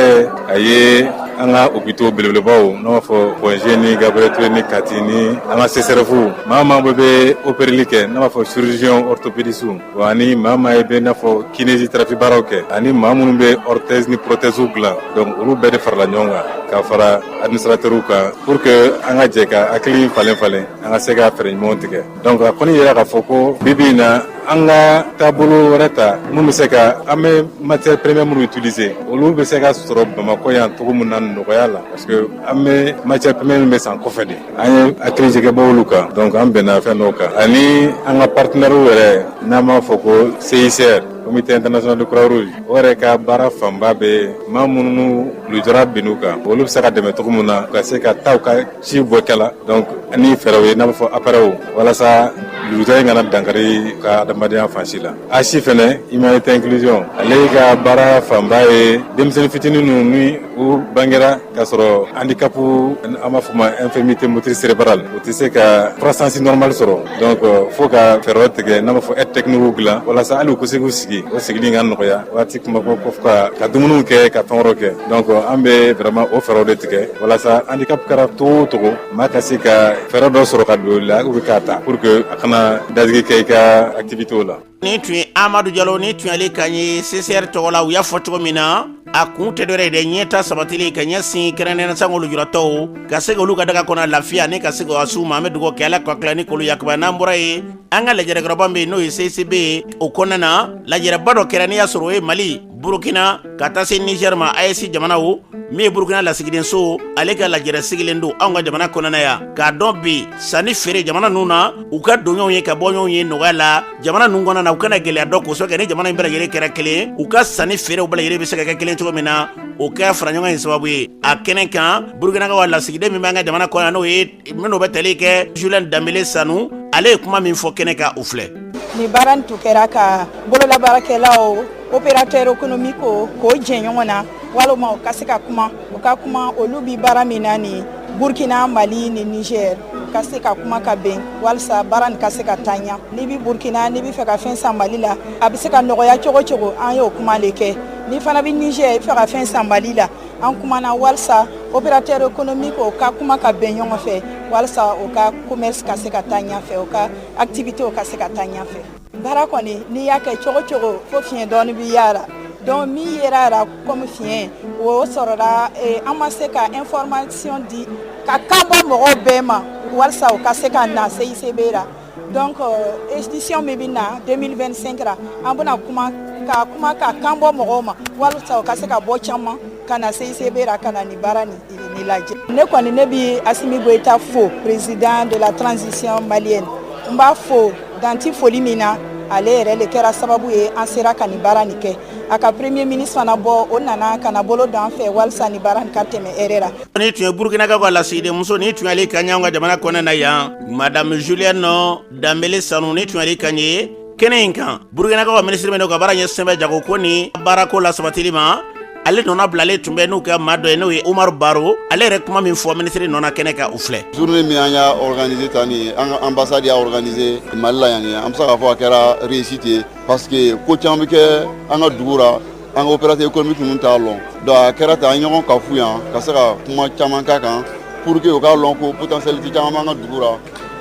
a ye an ka hôpitaux belebelebaw n'an b'a fɔ Point G ni Gabiriyɛli Ture ni Kati ni an ka CSREF maa o maa bɛ opereli kɛ n'an b'a fɔ chirurgien orthopédistew ani maa o maa bɛ i n'a fɔ kinésithérapie baaraw kɛ ani maa minnu bɛ orthèse ni prothèse dilan donc olu bɛɛ de farala ɲɔgɔn kan ka fara administrateurs kan pour que an ka jɛ ka hakili falen falen an ka se ka fɛɛrɛ ɲumanw tigɛ. Donc a kɔni yira k'a fɔ ko bi bi in na an ka taabolo wɛrɛ ta mun bɛ se ka an bɛ matière première minnu utiliser olu bɛ se ka sɔrɔ bamakɔ yan cogo min na nɔgɔya la parce que an bɛ matière première min bɛ san kɔfɛ de an ye hakilijagabɔ olu kan donc an bɛnna fɛn dɔw kan ani an ka partenaires yɛrɛ n'an b'a fɔ ko CICR comité international de croix rouge o yɛrɛ ka baara fanba bɛ maa minnu lujura binn'u kan olu bɛ se ka dɛmɛ cogo min na ka se ka taa u ka si bɔ kɛla donc ni fɛɛrɛw ye n'a bɛ fɔ appareilw walasa lujura in kana dankari ka adamadenya fan si la HI fɛnɛ humanité inclusion ale ka baara fanba ye denmisɛnnin fitinin ninnu ni u bangera k'a sɔrɔ handicap an b'a fɔ ma infirmité motrice cérébrale u tɛ se ka croissance normale sɔrɔ donc fo ka fɛɛrɛw tigɛ n'a b'a fɔ aide technique dilan walasa hali u ka se k'u sigi o sigili ka nɔgɔya waati kuma ka ka dumuniw kɛ ka fɛn wɛrɛw kɛ Donc an bɛ vraiment o fɛɛrɛw de tigɛ walasa handicap kɛra cogo o cogo maa ka se ka fɛɛrɛ dɔ sɔrɔ ka don i la ou bien k'a ta pour que a kana dadigi kɛ i ka activités la. Nin tun ye Amadu Jalo ni tun y'ale kan ye CICR tɔgɔ la u y'a fɔ cogo min na a kun tɛ dɔwɛrɛ ye dɛ ɲɛtaa sabatili ye ka ɲɛsin kɛrɛnkɛrɛnnenya sango lujuratɔw ka se k'olu ka daga kɔnɔ lafiya ani ka se k'o suma an bɛ dugawu kɛ ala ka tila ni k'olu yakubaya n'an bɔra yen an ka lajɛrɛkɛyɔrɔba min bɛ yen n'o ye CICB ye o kɔnɔna na lajɛrɛba dɔ kɛra n'i y'a sɔrɔ o ye Mali burukina ka taa se nizɛri ma AES jamanaw min ye burukina lasigiden so ale ka lajɛrɛ sigilen don anw ka jamana kɔnɔna yan k'a dɔn bi sanni feere jamana ninnu na u ka donɲɔgɔnw ye ka bɔɲɔgɔnw ye nɔgɔya la jamana ninnu kɔnɔna na u kana gɛlɛya dɔn k'a sabu kɛ ni jamana in bɛɛ lajɛlen kɛra kelen u ka sanni feerew bɛɛ lajɛlen bɛ se ka kɛ kelen cogo min na o kɛra faraɲɔgɔn in sababu ye a kɛnɛ kan burukinakaw lasigiden min b'an ka jamana kɔnɔ n'o ye minnu bɛ tali kɛ Julienne Dembélé Sanou ale ye kuma min fɔ kɛnɛ kan o filɛ ni baara nin tun kɛra ka bololabaarakɛlaw opérateur économiquew k'o jɛ ɲɔgɔn na walima u ka se ka kuma u ka kuma olu bi baara min na ni burkina mali ni niger ka se ka kuma ka bɛn walisa baara nin ka se ka taa ɲa n'i bi burkina n'i bi fɛ ka fɛn san mali la a bɛ se ka nɔgɔya cogo o cogo an y'o kuma le kɛ n'i fana bɛ niger i bɛ fɛ ka fɛn san mali la an kumana walisa opérateur économique o ka kuma ka bɛn ɲɔgɔn fɛ walisa o ka commerce ka se ka taa ɲɛfɛ o ka activité ka se ka taa ɲɛfɛ baara kɔni n'i y'a kɛ cogo cogo fo fiɲɛ dɔɔni bi y'a la donc min yera la comme fiɲɛ o sɔrɔla eh, an ma se ka information di ka kan bɔ mɔgɔw bɛɛ ma walisa u ka se ka na CICB la donc euh, édition min bɛ na 2025 ra an bɛna kuma ka kuma ka kan bɔ mɔgɔw ma walasa o ka se ka bɔ caman ka na CICB ra ka na nin baara nin nin lajɛ ne kɔni ne bi Asimi Goyita fo président de la transition malienne n b'a fo dan ti foli min na ale yɛrɛ le kɛra sababu ye an sera ka nin baara nin kɛ a ka premier ministre fana bɔ o nana ka na bolo don an fɛ walisa ni baara ka tɛmɛ hɛɛrɛ la nin tun ye burkinakaw ka lasigidenmuso ni tun y'ale kaɲɛ anw ka jamana kɔnɔ na yan madame julienne danbele sanu nin tun y'ale kan ye kɛnɛ in kan burkinakaw ka minisiri min ka baara ɲɛsin bɛ jagoko ni baarako lasabatili ma ale nɔna bilalen tun bɛ n'u ka maa dɔ ye n'o ye umaru baro ale yɛrɛ kuma min fɔ minisiri nɔna kɛnɛ kan u filɛ journée min an y'a organise tan ni an ka ambassade y'a organise mali la yan ye an be se k'a fɔ a kɛra réussite ye parce que ko caman bɛ kɛ an ka dugu la an ka opérateur économique ninnu t'a lɔn donc a kɛra tan an ye ɲɔgɔn kafo yan ka se ka kuma caman k'a kan pour que u k'a lɔn ko potentialité caman b'an ka dugu la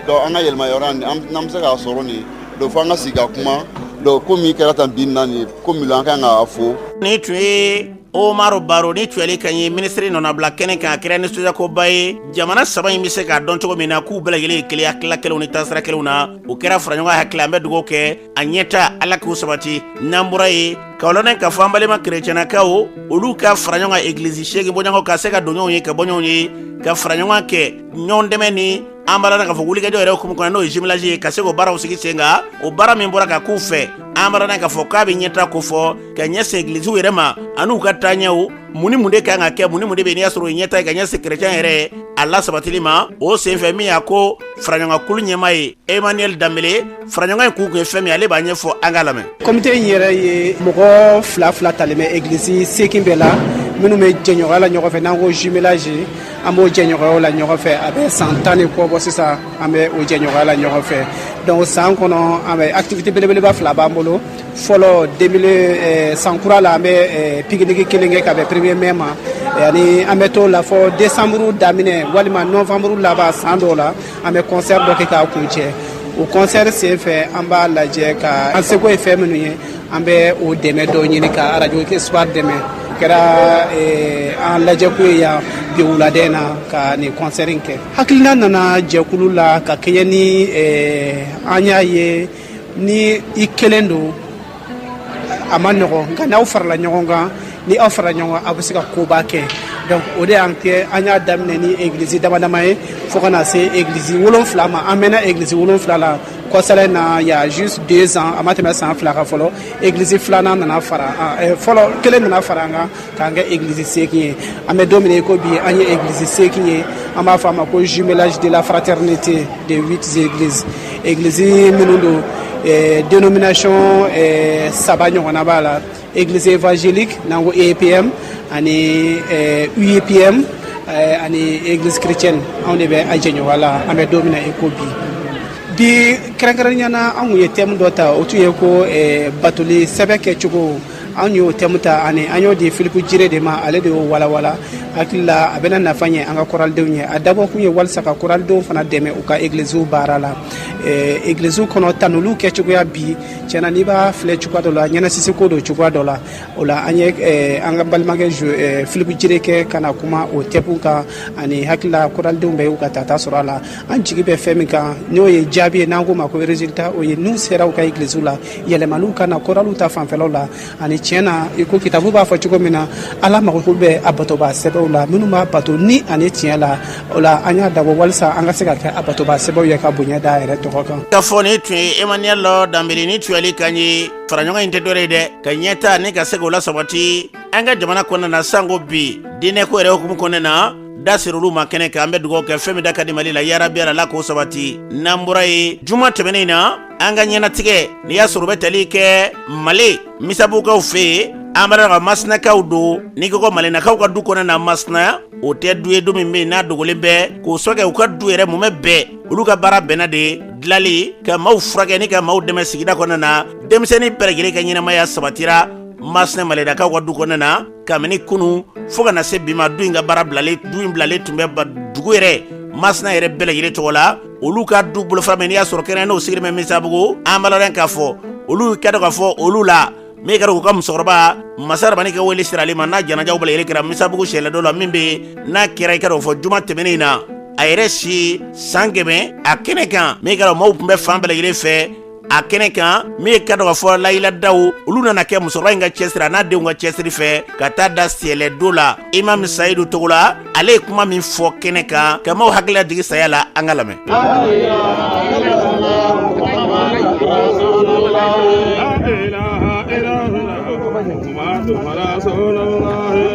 donc an ka yɛrɛmahɔrɔnya n'an bɛ se k'a sɔrɔ nin donc fo an ka sigi ka kuma donc ko min kɛra tan bi na nin ko min lo an ka kan k'a fo. Nin tun ye Omaru Baro nin tun y'ale kan ye minisiri nɔnabila kɛnɛ kan a kɛra nisɔndiyakoba ye jamana saba in bɛ se k'a dɔn cogo min na k'u bɛɛ lajɛlen ye kelen ye hakilila kelenw ni taasira kelenw na o kɛra faraɲɔgɔn hakili an bɛ dugawu kɛ a ɲɛta ala k'u sabati n'an bɔra yen k'a lɔn k'a fɔ an balima kerecɛnnakaw olu ka fara ɲɔgɔn kan egilizi seegin bɔɲɔgɔnw ka se ka don ɲɔgɔn ye ka bɔ ɲɔgɔn ye ka fara ɲɔgɔn kan ɲɔgɔndɛmɛ ni an b'a la k'a fɔ wulikajɔ yɛrɛ hukumu kɔnɔ n'o ye jumelage ye ka se k'o baaraw sigi sen kan o baara min bɔra ka k'u fɛ an b'a la k'a fɔ k'a bɛ ɲɛtaa ko fɔ ka ɲɛsin egilisiw yɛrɛ ma an'u ka taaɲɛw mun ni mun de kan ka kɛ mun ni mun de bɛ n'i y'a sɔrɔ o ye ɲɛtaa ye ka ɲɛsin kerecɛn yɛrɛ a lasabatili ma o senfɛ min y'a ko faraɲɔgɔnkulu ɲɛmaa ye emmanuel danbele faraɲɔgɔn in kɛkun ye fɛn min ale b'a ɲɛfɔ an k'a lamɛn kɔmite in yɛrɛ ye mɔgɔ fila fila talen bɛ egilisi seegin bɛɛ la minnu bɛ jɛɲɔgɔnya la ɲɔgɔn fɛ n'an ko jumelage an b'o jɛɲɔgɔnya la ɲɔgɔn fɛ a bɛ san tan ni kɔ bɔ sisan an bɛ o jɛɲɔgɔnya la ɲɔgɔn fɛ donc san kɔnɔ an bɛ activité belebeleba fila b'an bolo fɔlɔ 2000 eh, san kura la an bɛ eh, pikiniki kelen kɛ ka bɛn premier mai ma eh, ani an bɛ t'o la fo décembre daminɛ walima novembre laban san dɔw la An bɛ kɔnsɛri dɔ kɛ k'a kuncɛ o kɔnsɛri sen fɛ an b'a lajɛ ka an seko ye fɛn minnu ye an bɛ o dɛmɛ dɔw ɲini ka arajo espoir dɛmɛ o kɛra an lajɛko ye yan bi wulada in na ka nin kɔnsɛri kɛ hakilina nana jɛkulu la ka kɛɲɛ ni an y'a ye ni i kelen don a ma nɔgɔ nka n'aw farala ɲɔgɔn kan ni aw farala ɲɔgɔn kan aw bɛ se ka koba kɛ donc o de y'an kɛ an y'a daminɛ ni egilizi dama dama ye fo ka na se egilizi wolonfila ma an mɛnna egilizi wolonfila la kɔsala in na il y a juste deux ans a ma tɛmɛ san fila kan fɔlɔ egilizi filanan nana fara eh, fɔlɔ kelen nana fara an kan k'an kɛ egilizi seegin ye an bɛ don min na i ko bi an ye egilizi seegin ye an b'a fɔ a ma ko jumelage de la fraternité de huit églises egilizi minnu don eh, denomination eh, saba ɲɔgɔnna b'a la egilizi évangélique n'an ko eepm ani eh, uepm eh, ani egilizi chrétienne anw de bɛ a jɛɲɔgɔnya la an bɛ don min na i ko bi bi kɛrɛnkɛrɛnnenya na an tun ye thème dɔ ta o tun ye ko eh, batoli sɛbɛ kɛcogo an y'o thème ta ani an y'o di filipu jire de ma ale de y'o walawala n hakili la a bɛna nafa ɲɛ an ka koralidenw ye a dabɔ kun ye walisa ka koralidenw fana dɛmɛ u ka egilisiw baara la egilisiw kɔnɔ tanuliw kɛcogoya bi tiɲɛ na n'i b'a filɛ cogoya dɔ la ɲɛnasisiko don cogoya dɔ la o la an ye an ka balimakɛ filipu jire kɛ ka na kuma o thème kan ani n hakili la koralidenw bɛɛ y'u ka tata sɔrɔ a la an jigi bɛ fɛn min kan n'o ye jaabi ye n'an k'o ma ko résultat o ye n'u sera u ka egilisiw la yɛlɛmaniw ka na koraliw ta fanfɛlaw la ani tiɲɛ na i ko kitabu b'a fɔ cogo min na ala mago bɛ a batobaa sɛbɛw la minnu b'a bato ni ani tiɲɛ la o la an y'a dabɔ walisa an ka se ka kɛ a batobaa sɛbɛw ye ka bonya da a yɛrɛ tɔgɔ kan ka fɔ nin tun ye emmanuel lɔ danbele ni tuyali kan ye faraɲɔgɔn in tɛ dɔwɛrɛ ye dɛ ka ɲɛta ni ka se k'o lasabati an ka jamana kɔnɔna na sanko bi diinɛko yɛrɛ hukumu kɔnɔna na da ser'olu ma kɛnɛ kan an bɛ dugawu kɛ fɛn min da ka di mali la yarabi ala la k'o sabati n'an bɔra yen juma tɛmɛnen in na an ka ɲɛnatigɛ n'i y'a sɔrɔ o bɛ tali kɛ male misabukaw fɛ yen an b'a dɔn ko masinakaw don n'i ko ko malenakaw ka du kɔnɔ na masina o tɛ du ye du min bɛ yen n'a dogolen bɛ k'o sɔkɛ u ka du yɛrɛ mumɛ bɛɛ olu ka baara bɛnna de dilali ka maaw furakɛ ni ka maaw dɛmɛ sigida kɔnɔ na denmisɛnnin bɛɛ lajɛlen ka ɲɛnamaya sabatira masina malenakaw ka du kɔnɔ na kabini kunu fo ka na se bi ma du in ka baara bilalen du in bilalen tun bɛ dugu yɛrɛ masina yɛrɛ bɛɛ lajɛlen tɔgɔ la olu ka du bolofara min n'i y'a sɔrɔ kɛnɛ n'o sigilen bɛ misabugu an b'a dɔn k'a fɔ olu k'a dɔn k'a fɔ olu la min ye k'a dɔn k'u ka musokɔrɔba masa rabani ka wele sera ale ma n'a janajaw bɛɛ lajɛlen kɛra misabugu sɛlɛdo la min bɛ n'a kɛra i k'a dɔn k'a fɔ juma tɛmɛnen in na a yɛrɛ si san kɛmɛ a kɛnɛ kan min ye k'a dɔn maaw tun bɛ fan bɛɛ lajɛlen fɛ a kɛnɛ kan min ye k'a dɔn k'a fɔ layiladaw olu nana kɛ musokɔrɔba in ka cɛsiri a n'a denw ka cɛsiri fɛ ka taa da sɛlɛdo la imam sayidu togo la ale ye kuma min fɔ kɛnɛ kan ka maaw hakili lajigin saya la an ka lamɛn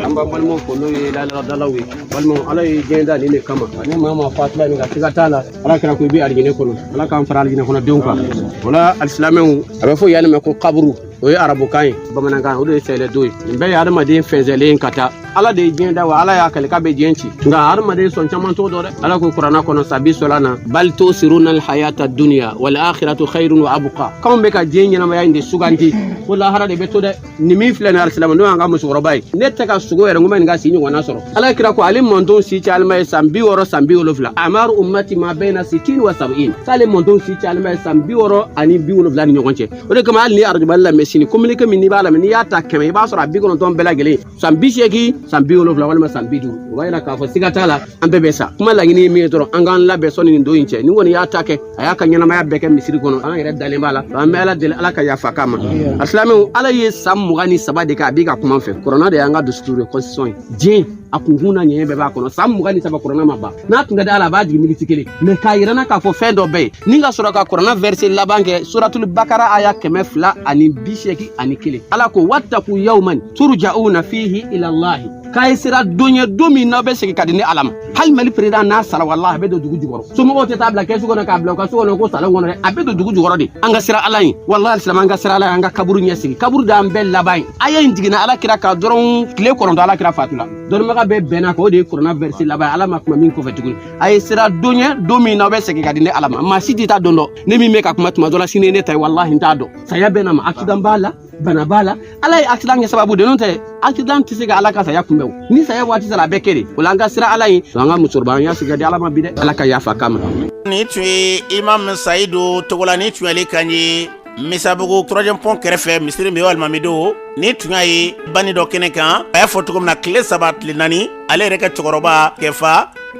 an b'an balimaw fo n'o ye layiladalaw ye balimaw ala ye diɲɛ da nin de kama ani maa maa fatula nin ka siga t'a la ala kɛra ko i bɛ alijinɛ kɔnɔ ala k'an fara alijinɛ kɔnɔ denw kan o la alisilamɛw a bɛ fɔ yanni mɛ ko kaburu o ye arabukan ye bamanankan o de ye sɛlɛdo ye nin bɛɛ ye adamaden fɛnsɛlen ka taa ala de ye diɲɛ da wa ala y'a kali k'a bɛ diɲɛ ci nka adamaden sɔn caman t'o dɔn dɛ ala ko kuranna kɔnɔ sabi sɔla na bal tusiruna alhayata duniya wal akhiratu khairun wa abqa k'anw bɛ ka diɲɛ ɲɛnamaya in de suganti ko lahara de bɛ to dɛ nin min filɛ nin alisilama n'o y'an ka musokɔrɔba ye ne tɛ ka sugo yɛrɛ ko n bɛ nin ka si ɲɔgɔnna sɔrɔ ala kira ko ale mantɔn si cayalenba ye san bi wɔɔrɔ san bi wolonfila amaru ummati ma baina sitin wa sabiin k'ale mantɔn si cayalenba ye san bi wɔɔrɔ ani bi wolonfila ni ɲɔgɔn cɛ o de kama hali n'i arajo mali lamɛn sini kominike min n'i b'a lamɛn n'i y'a ta kɛmɛ i b'a sɔrɔ a bi kɔnɔntɔn bɛɛ lajɛlen san bi seegin san bi wolonfila walima san bi duuru o b'a yira k'a fɔ siga t'a la an bɛɛ bɛ sa kuma laɲini ye min ye dɔrɔn an k'an labɛn sanni nin don in cɛ nin kɔni y'a ta kɛ a y'a ka ɲɛnamaya bɛɛ kɛ misiri kɔnɔ an yɛrɛ dalen b'a la an bɛ ala deli ala ka yafa k'a ma alisilamɛw ala ye san mugan ni saba de kɛ a b'i ka kuma fɛ kuranna de y'an ka dusuturu ye constitution ye diɲɛ a kunkun n'a ɲɛɲɛ bɛɛ b'a kɔnɔ san mugan ni saba kuranna ma ban n'a tun ka di ala a b'a jigin miniti kelen mɛ k'a yira an na k'a fɔ fɛn dɔ bɛ yen ni ka sɔrɔ ka kuranna vɛrse laban kɛ suratulu bakara aya kɛmɛ fila ani bi seegin ani kelen ala ko wattaku yawman turja'una fihi ilallahi k'a ye siran don ye don min n'aw bɛ segin ka di ni ala ma hali mali peresidan n'a sara walahi a bɛ don dugu jukɔrɔ somɔgɔw tɛ taa bila kɛsu kɔnɔ k'a bila u ka so kɔnɔ ko salon kɔnɔ dɛ a bɛ don dugu jukɔrɔ de an ka siran ala ye walahi alisilama an ka siran ala ye an ka kaburu ɲɛsigi kaburu d'an bɛɛ laban ye aya in jiginna ala kira kan dɔrɔn tile kɔnɔntɔn ala kira fatula dɔnnibaga bɛɛ bɛnna a kan o de ye kuranna vɛrse laban ye ala ma kuma min kɔfɛ tuguni a ye siran don ye don min n'aw bɛ segin ka di ni ala ma maa si tɛ taa don dɔn ne min bɛ ka kuma tuma dɔ la sini ne ta ye walahi n t'a dɔn saya bɛ na ma accident b'a la bana b'a la ala ye accident kɛ sababu de n'o tɛ accident tɛ se ka ala ka saya kunbɛn o ni saya waati sera a bɛɛ kɛ de o la an ka siran ala ye an ka musokɔrɔba an y'a segin ka di ala ma bi dɛ ala ka yafa k'a ma nin tun ye imam sayidu togola nin tun y'ale kan ye misabugu troisième pont kɛrɛfɛ misiri min ye alimami don nin tun y'a ye banni dɔ kɛnɛ kan a y'a fɔ cogo min na tile saba tile naani ale yɛrɛ ka cɛkɔrɔba kɛfa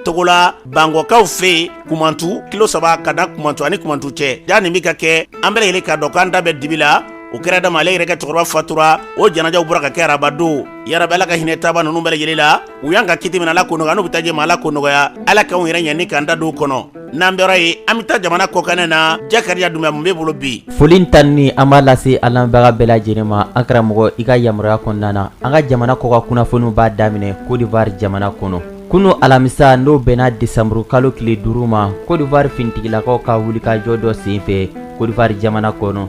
togola bangɔkaw fɛ yen kumantu kilo saba ka da kumantu ani kumantu cɛ ja nin bɛ ka kɛ an bɛɛ lajɛlen ka dɔn k'an da bɛ dibi la o kɛra dama ale yɛrɛ ka cɛkɔrɔba fatura o janajaw bɔra ka kɛ araba don yarabi ala ka hinɛ taabaa ninnu bɛɛ lajɛlen la u y'an ka kiti min na ala k'o nɔgɔya n'u bɛ taa jɛma ala k'o nɔgɔya ala k'anw yɛrɛ ɲɛ ni k'an ta don kɔnɔ n'an bɔra yen an bɛ taa jamana kɔkan na jakariya dunbiya mun b'e bolo bi foli tanuni an b'a lase an lamɛnbaga bɛɛ lajɛlen ma an karamɔgɔ i ka yamaruya kɔnɔna na an ka jamana kɔkan kunnafoniw b'a daminɛ kodiwari jamana kɔnɔ Kunun alamisa n'o bɛnna desanburu kalo tile duuru ma kodiwari finitigilakaw ka wulikajɔ dɔ senfɛ kodiwari jamana kɔnɔ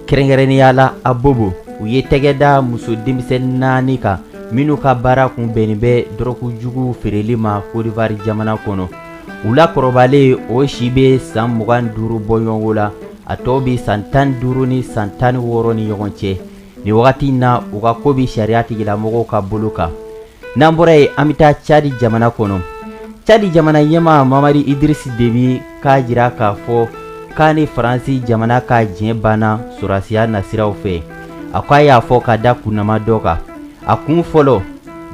kɛrɛnkɛrɛnnenya la abobo u ye tɛgɛ da muso denmisɛnnin naani kan minnu ka baara kun bɛnnen bɛ dɔrɔgujugu feereli ma kodiwari jamana kɔnɔ u la kɔrɔbalen o si bɛ san mugan ni duuru bɔɲɔgɔnko la a tɔw bɛ san tan ni duuru ni san tan ni wɔɔrɔ ni ɲɔgɔn cɛ nin wagati in na u ka ko bɛ sariyatigilamɔgɔw ka bolo kan n'an bɔra yen an bɛ taa cadi jamana kɔnɔ cadi jamana ɲɛmaa mamari idirisi debi k'a jira k'a fɔ k'a ni faransi jamana ka jɛn banna sɔrɔsiya nasiraw fɛ a ko a y'a fɔ ka da kun damadɔ kan a kun fɔlɔ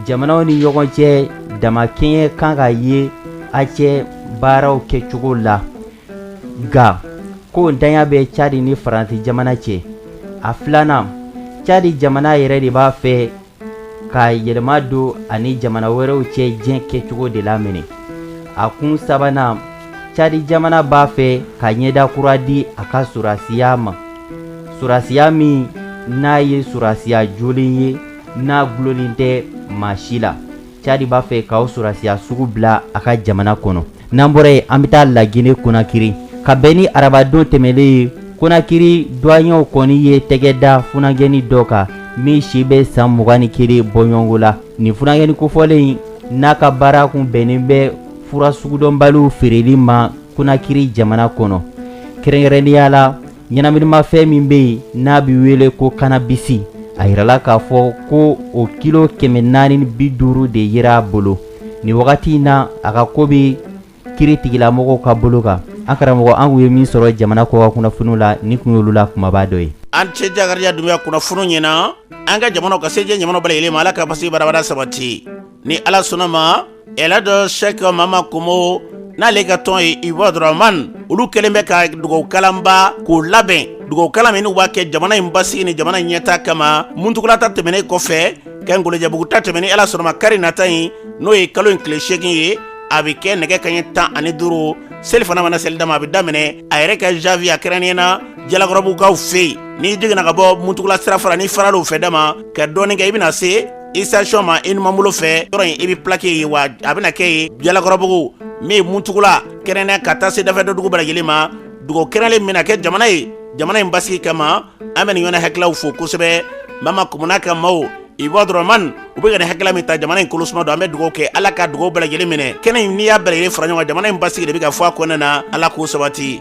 jamanaw ni ɲɔgɔn cɛ damakɛɲɛ kan ka ye a cɛ baaraw kɛcogo la nka k'o ntanya bɛ cadi ni faransi jamana cɛ a filanan cadi jamana yɛrɛ de b'a fɛ ka yɛlɛma don a ni jamana wɛrɛw cɛ jɛn kɛcogo de la minɛ a kun sabanan cadi jamana b'a fɛ ka ɲɛda kura di a ka sɔrɔsiya ma sɔrɔsiya min n'a ye sɔrɔsiya jɔlen ye n'a gulolen tɛ maa si la cadi b'a fɛ k'o sɔrɔsiya sugu bila a ka jamana kɔnɔ n'an bɔra yen an bɛ taa lagine konakiri ka bɛn ni arabadon tɛmɛlen ye konakiri duwanyew kɔni ye tɛgɛ da funagɛni dɔ kan min si bɛ san mugan ni kelen bɔɲɔgɔnko la nin funagɛni kofɔlen in n'a ka baara kun bɛnnen bɛ fura sugudɔnbaliw feereli ma konakiri jamana kɔnɔ kɛrɛnkɛrɛnnenya la ɲɛnaminimafɛn min bɛ yen n'a bɛ wele ko kanabisi a yirala k'a fɔ ko o kilo kɛmɛ naani bi duuru de yera a bolo nin wagati in na a ka ko bɛ kiritigɛlamɔgɔw ka bolo kan an karamɔgɔ an kun ye min sɔrɔ jamana kɔkan kunnafoniw la nin kun y'olu la kunbaba dɔ ye an cɛ jakariya dunbiya kunnafoniw ɲɛna an ka jamana ka se diɲɛ jamana bɛɛ lajɛlen ma ala ka basigi badaabadaa sabati ni ala sɔnna ma elihaji sɛki mama komo n'ale ka tɔn ye ibadurahaman olu kɛlen bɛ ka dugawukalanba k'o labɛn dugawukalan min n'u b'a kɛ jamana in basigi ni jamana in ɲɛtaa kama muntugula ta tɛmɛnen kɔfɛ ka ngolojɛbugu ta tɛmɛ ni ala sɔnna ma kari nata in n'o ye kalo in tile seegin ye a bɛ kɛ nɛgɛ kanɲɛ tan ani duuru selifana mana seli dama a bɛ daminɛ a yɛrɛ ka zawiya kɛrɛnnen na jalakɔrɔbugukaw fɛ yen n'i jiginna ka bɔ muntugula sira fara n'i farala o fɛ dama ka dɔɔnin kɛ i bɛna se estasiyɔn ma i numan bolo fɛ yɔrɔ in i bɛ plaki ye wa a bɛna kɛ yen jalakɔrɔbugu min ye muntugula kɛrɛnnɛ ka taa se dafɛ dɔ dugu bɛɛ lajɛlen ma dugawu kɛrɛnnen min bɛ kɛ jamana ye jamana in basigi kama an bɛ nin ɲɔgɔnna hakililaw fo kosɛbɛ mama komo n'a ka maaw ibadurahaman u bɛ ka nin hakilila min ta jamana in kolosuma don an bɛ dugawu kɛ ala ka dugawu bɛɛ lajɛlen minɛ kɛnɛ in n'i y'a bɛɛ lajɛlen fara ɲɔgɔn kan jamana in basigi de bɛ ka fɔ a kɔnɔna na ala k'o sabati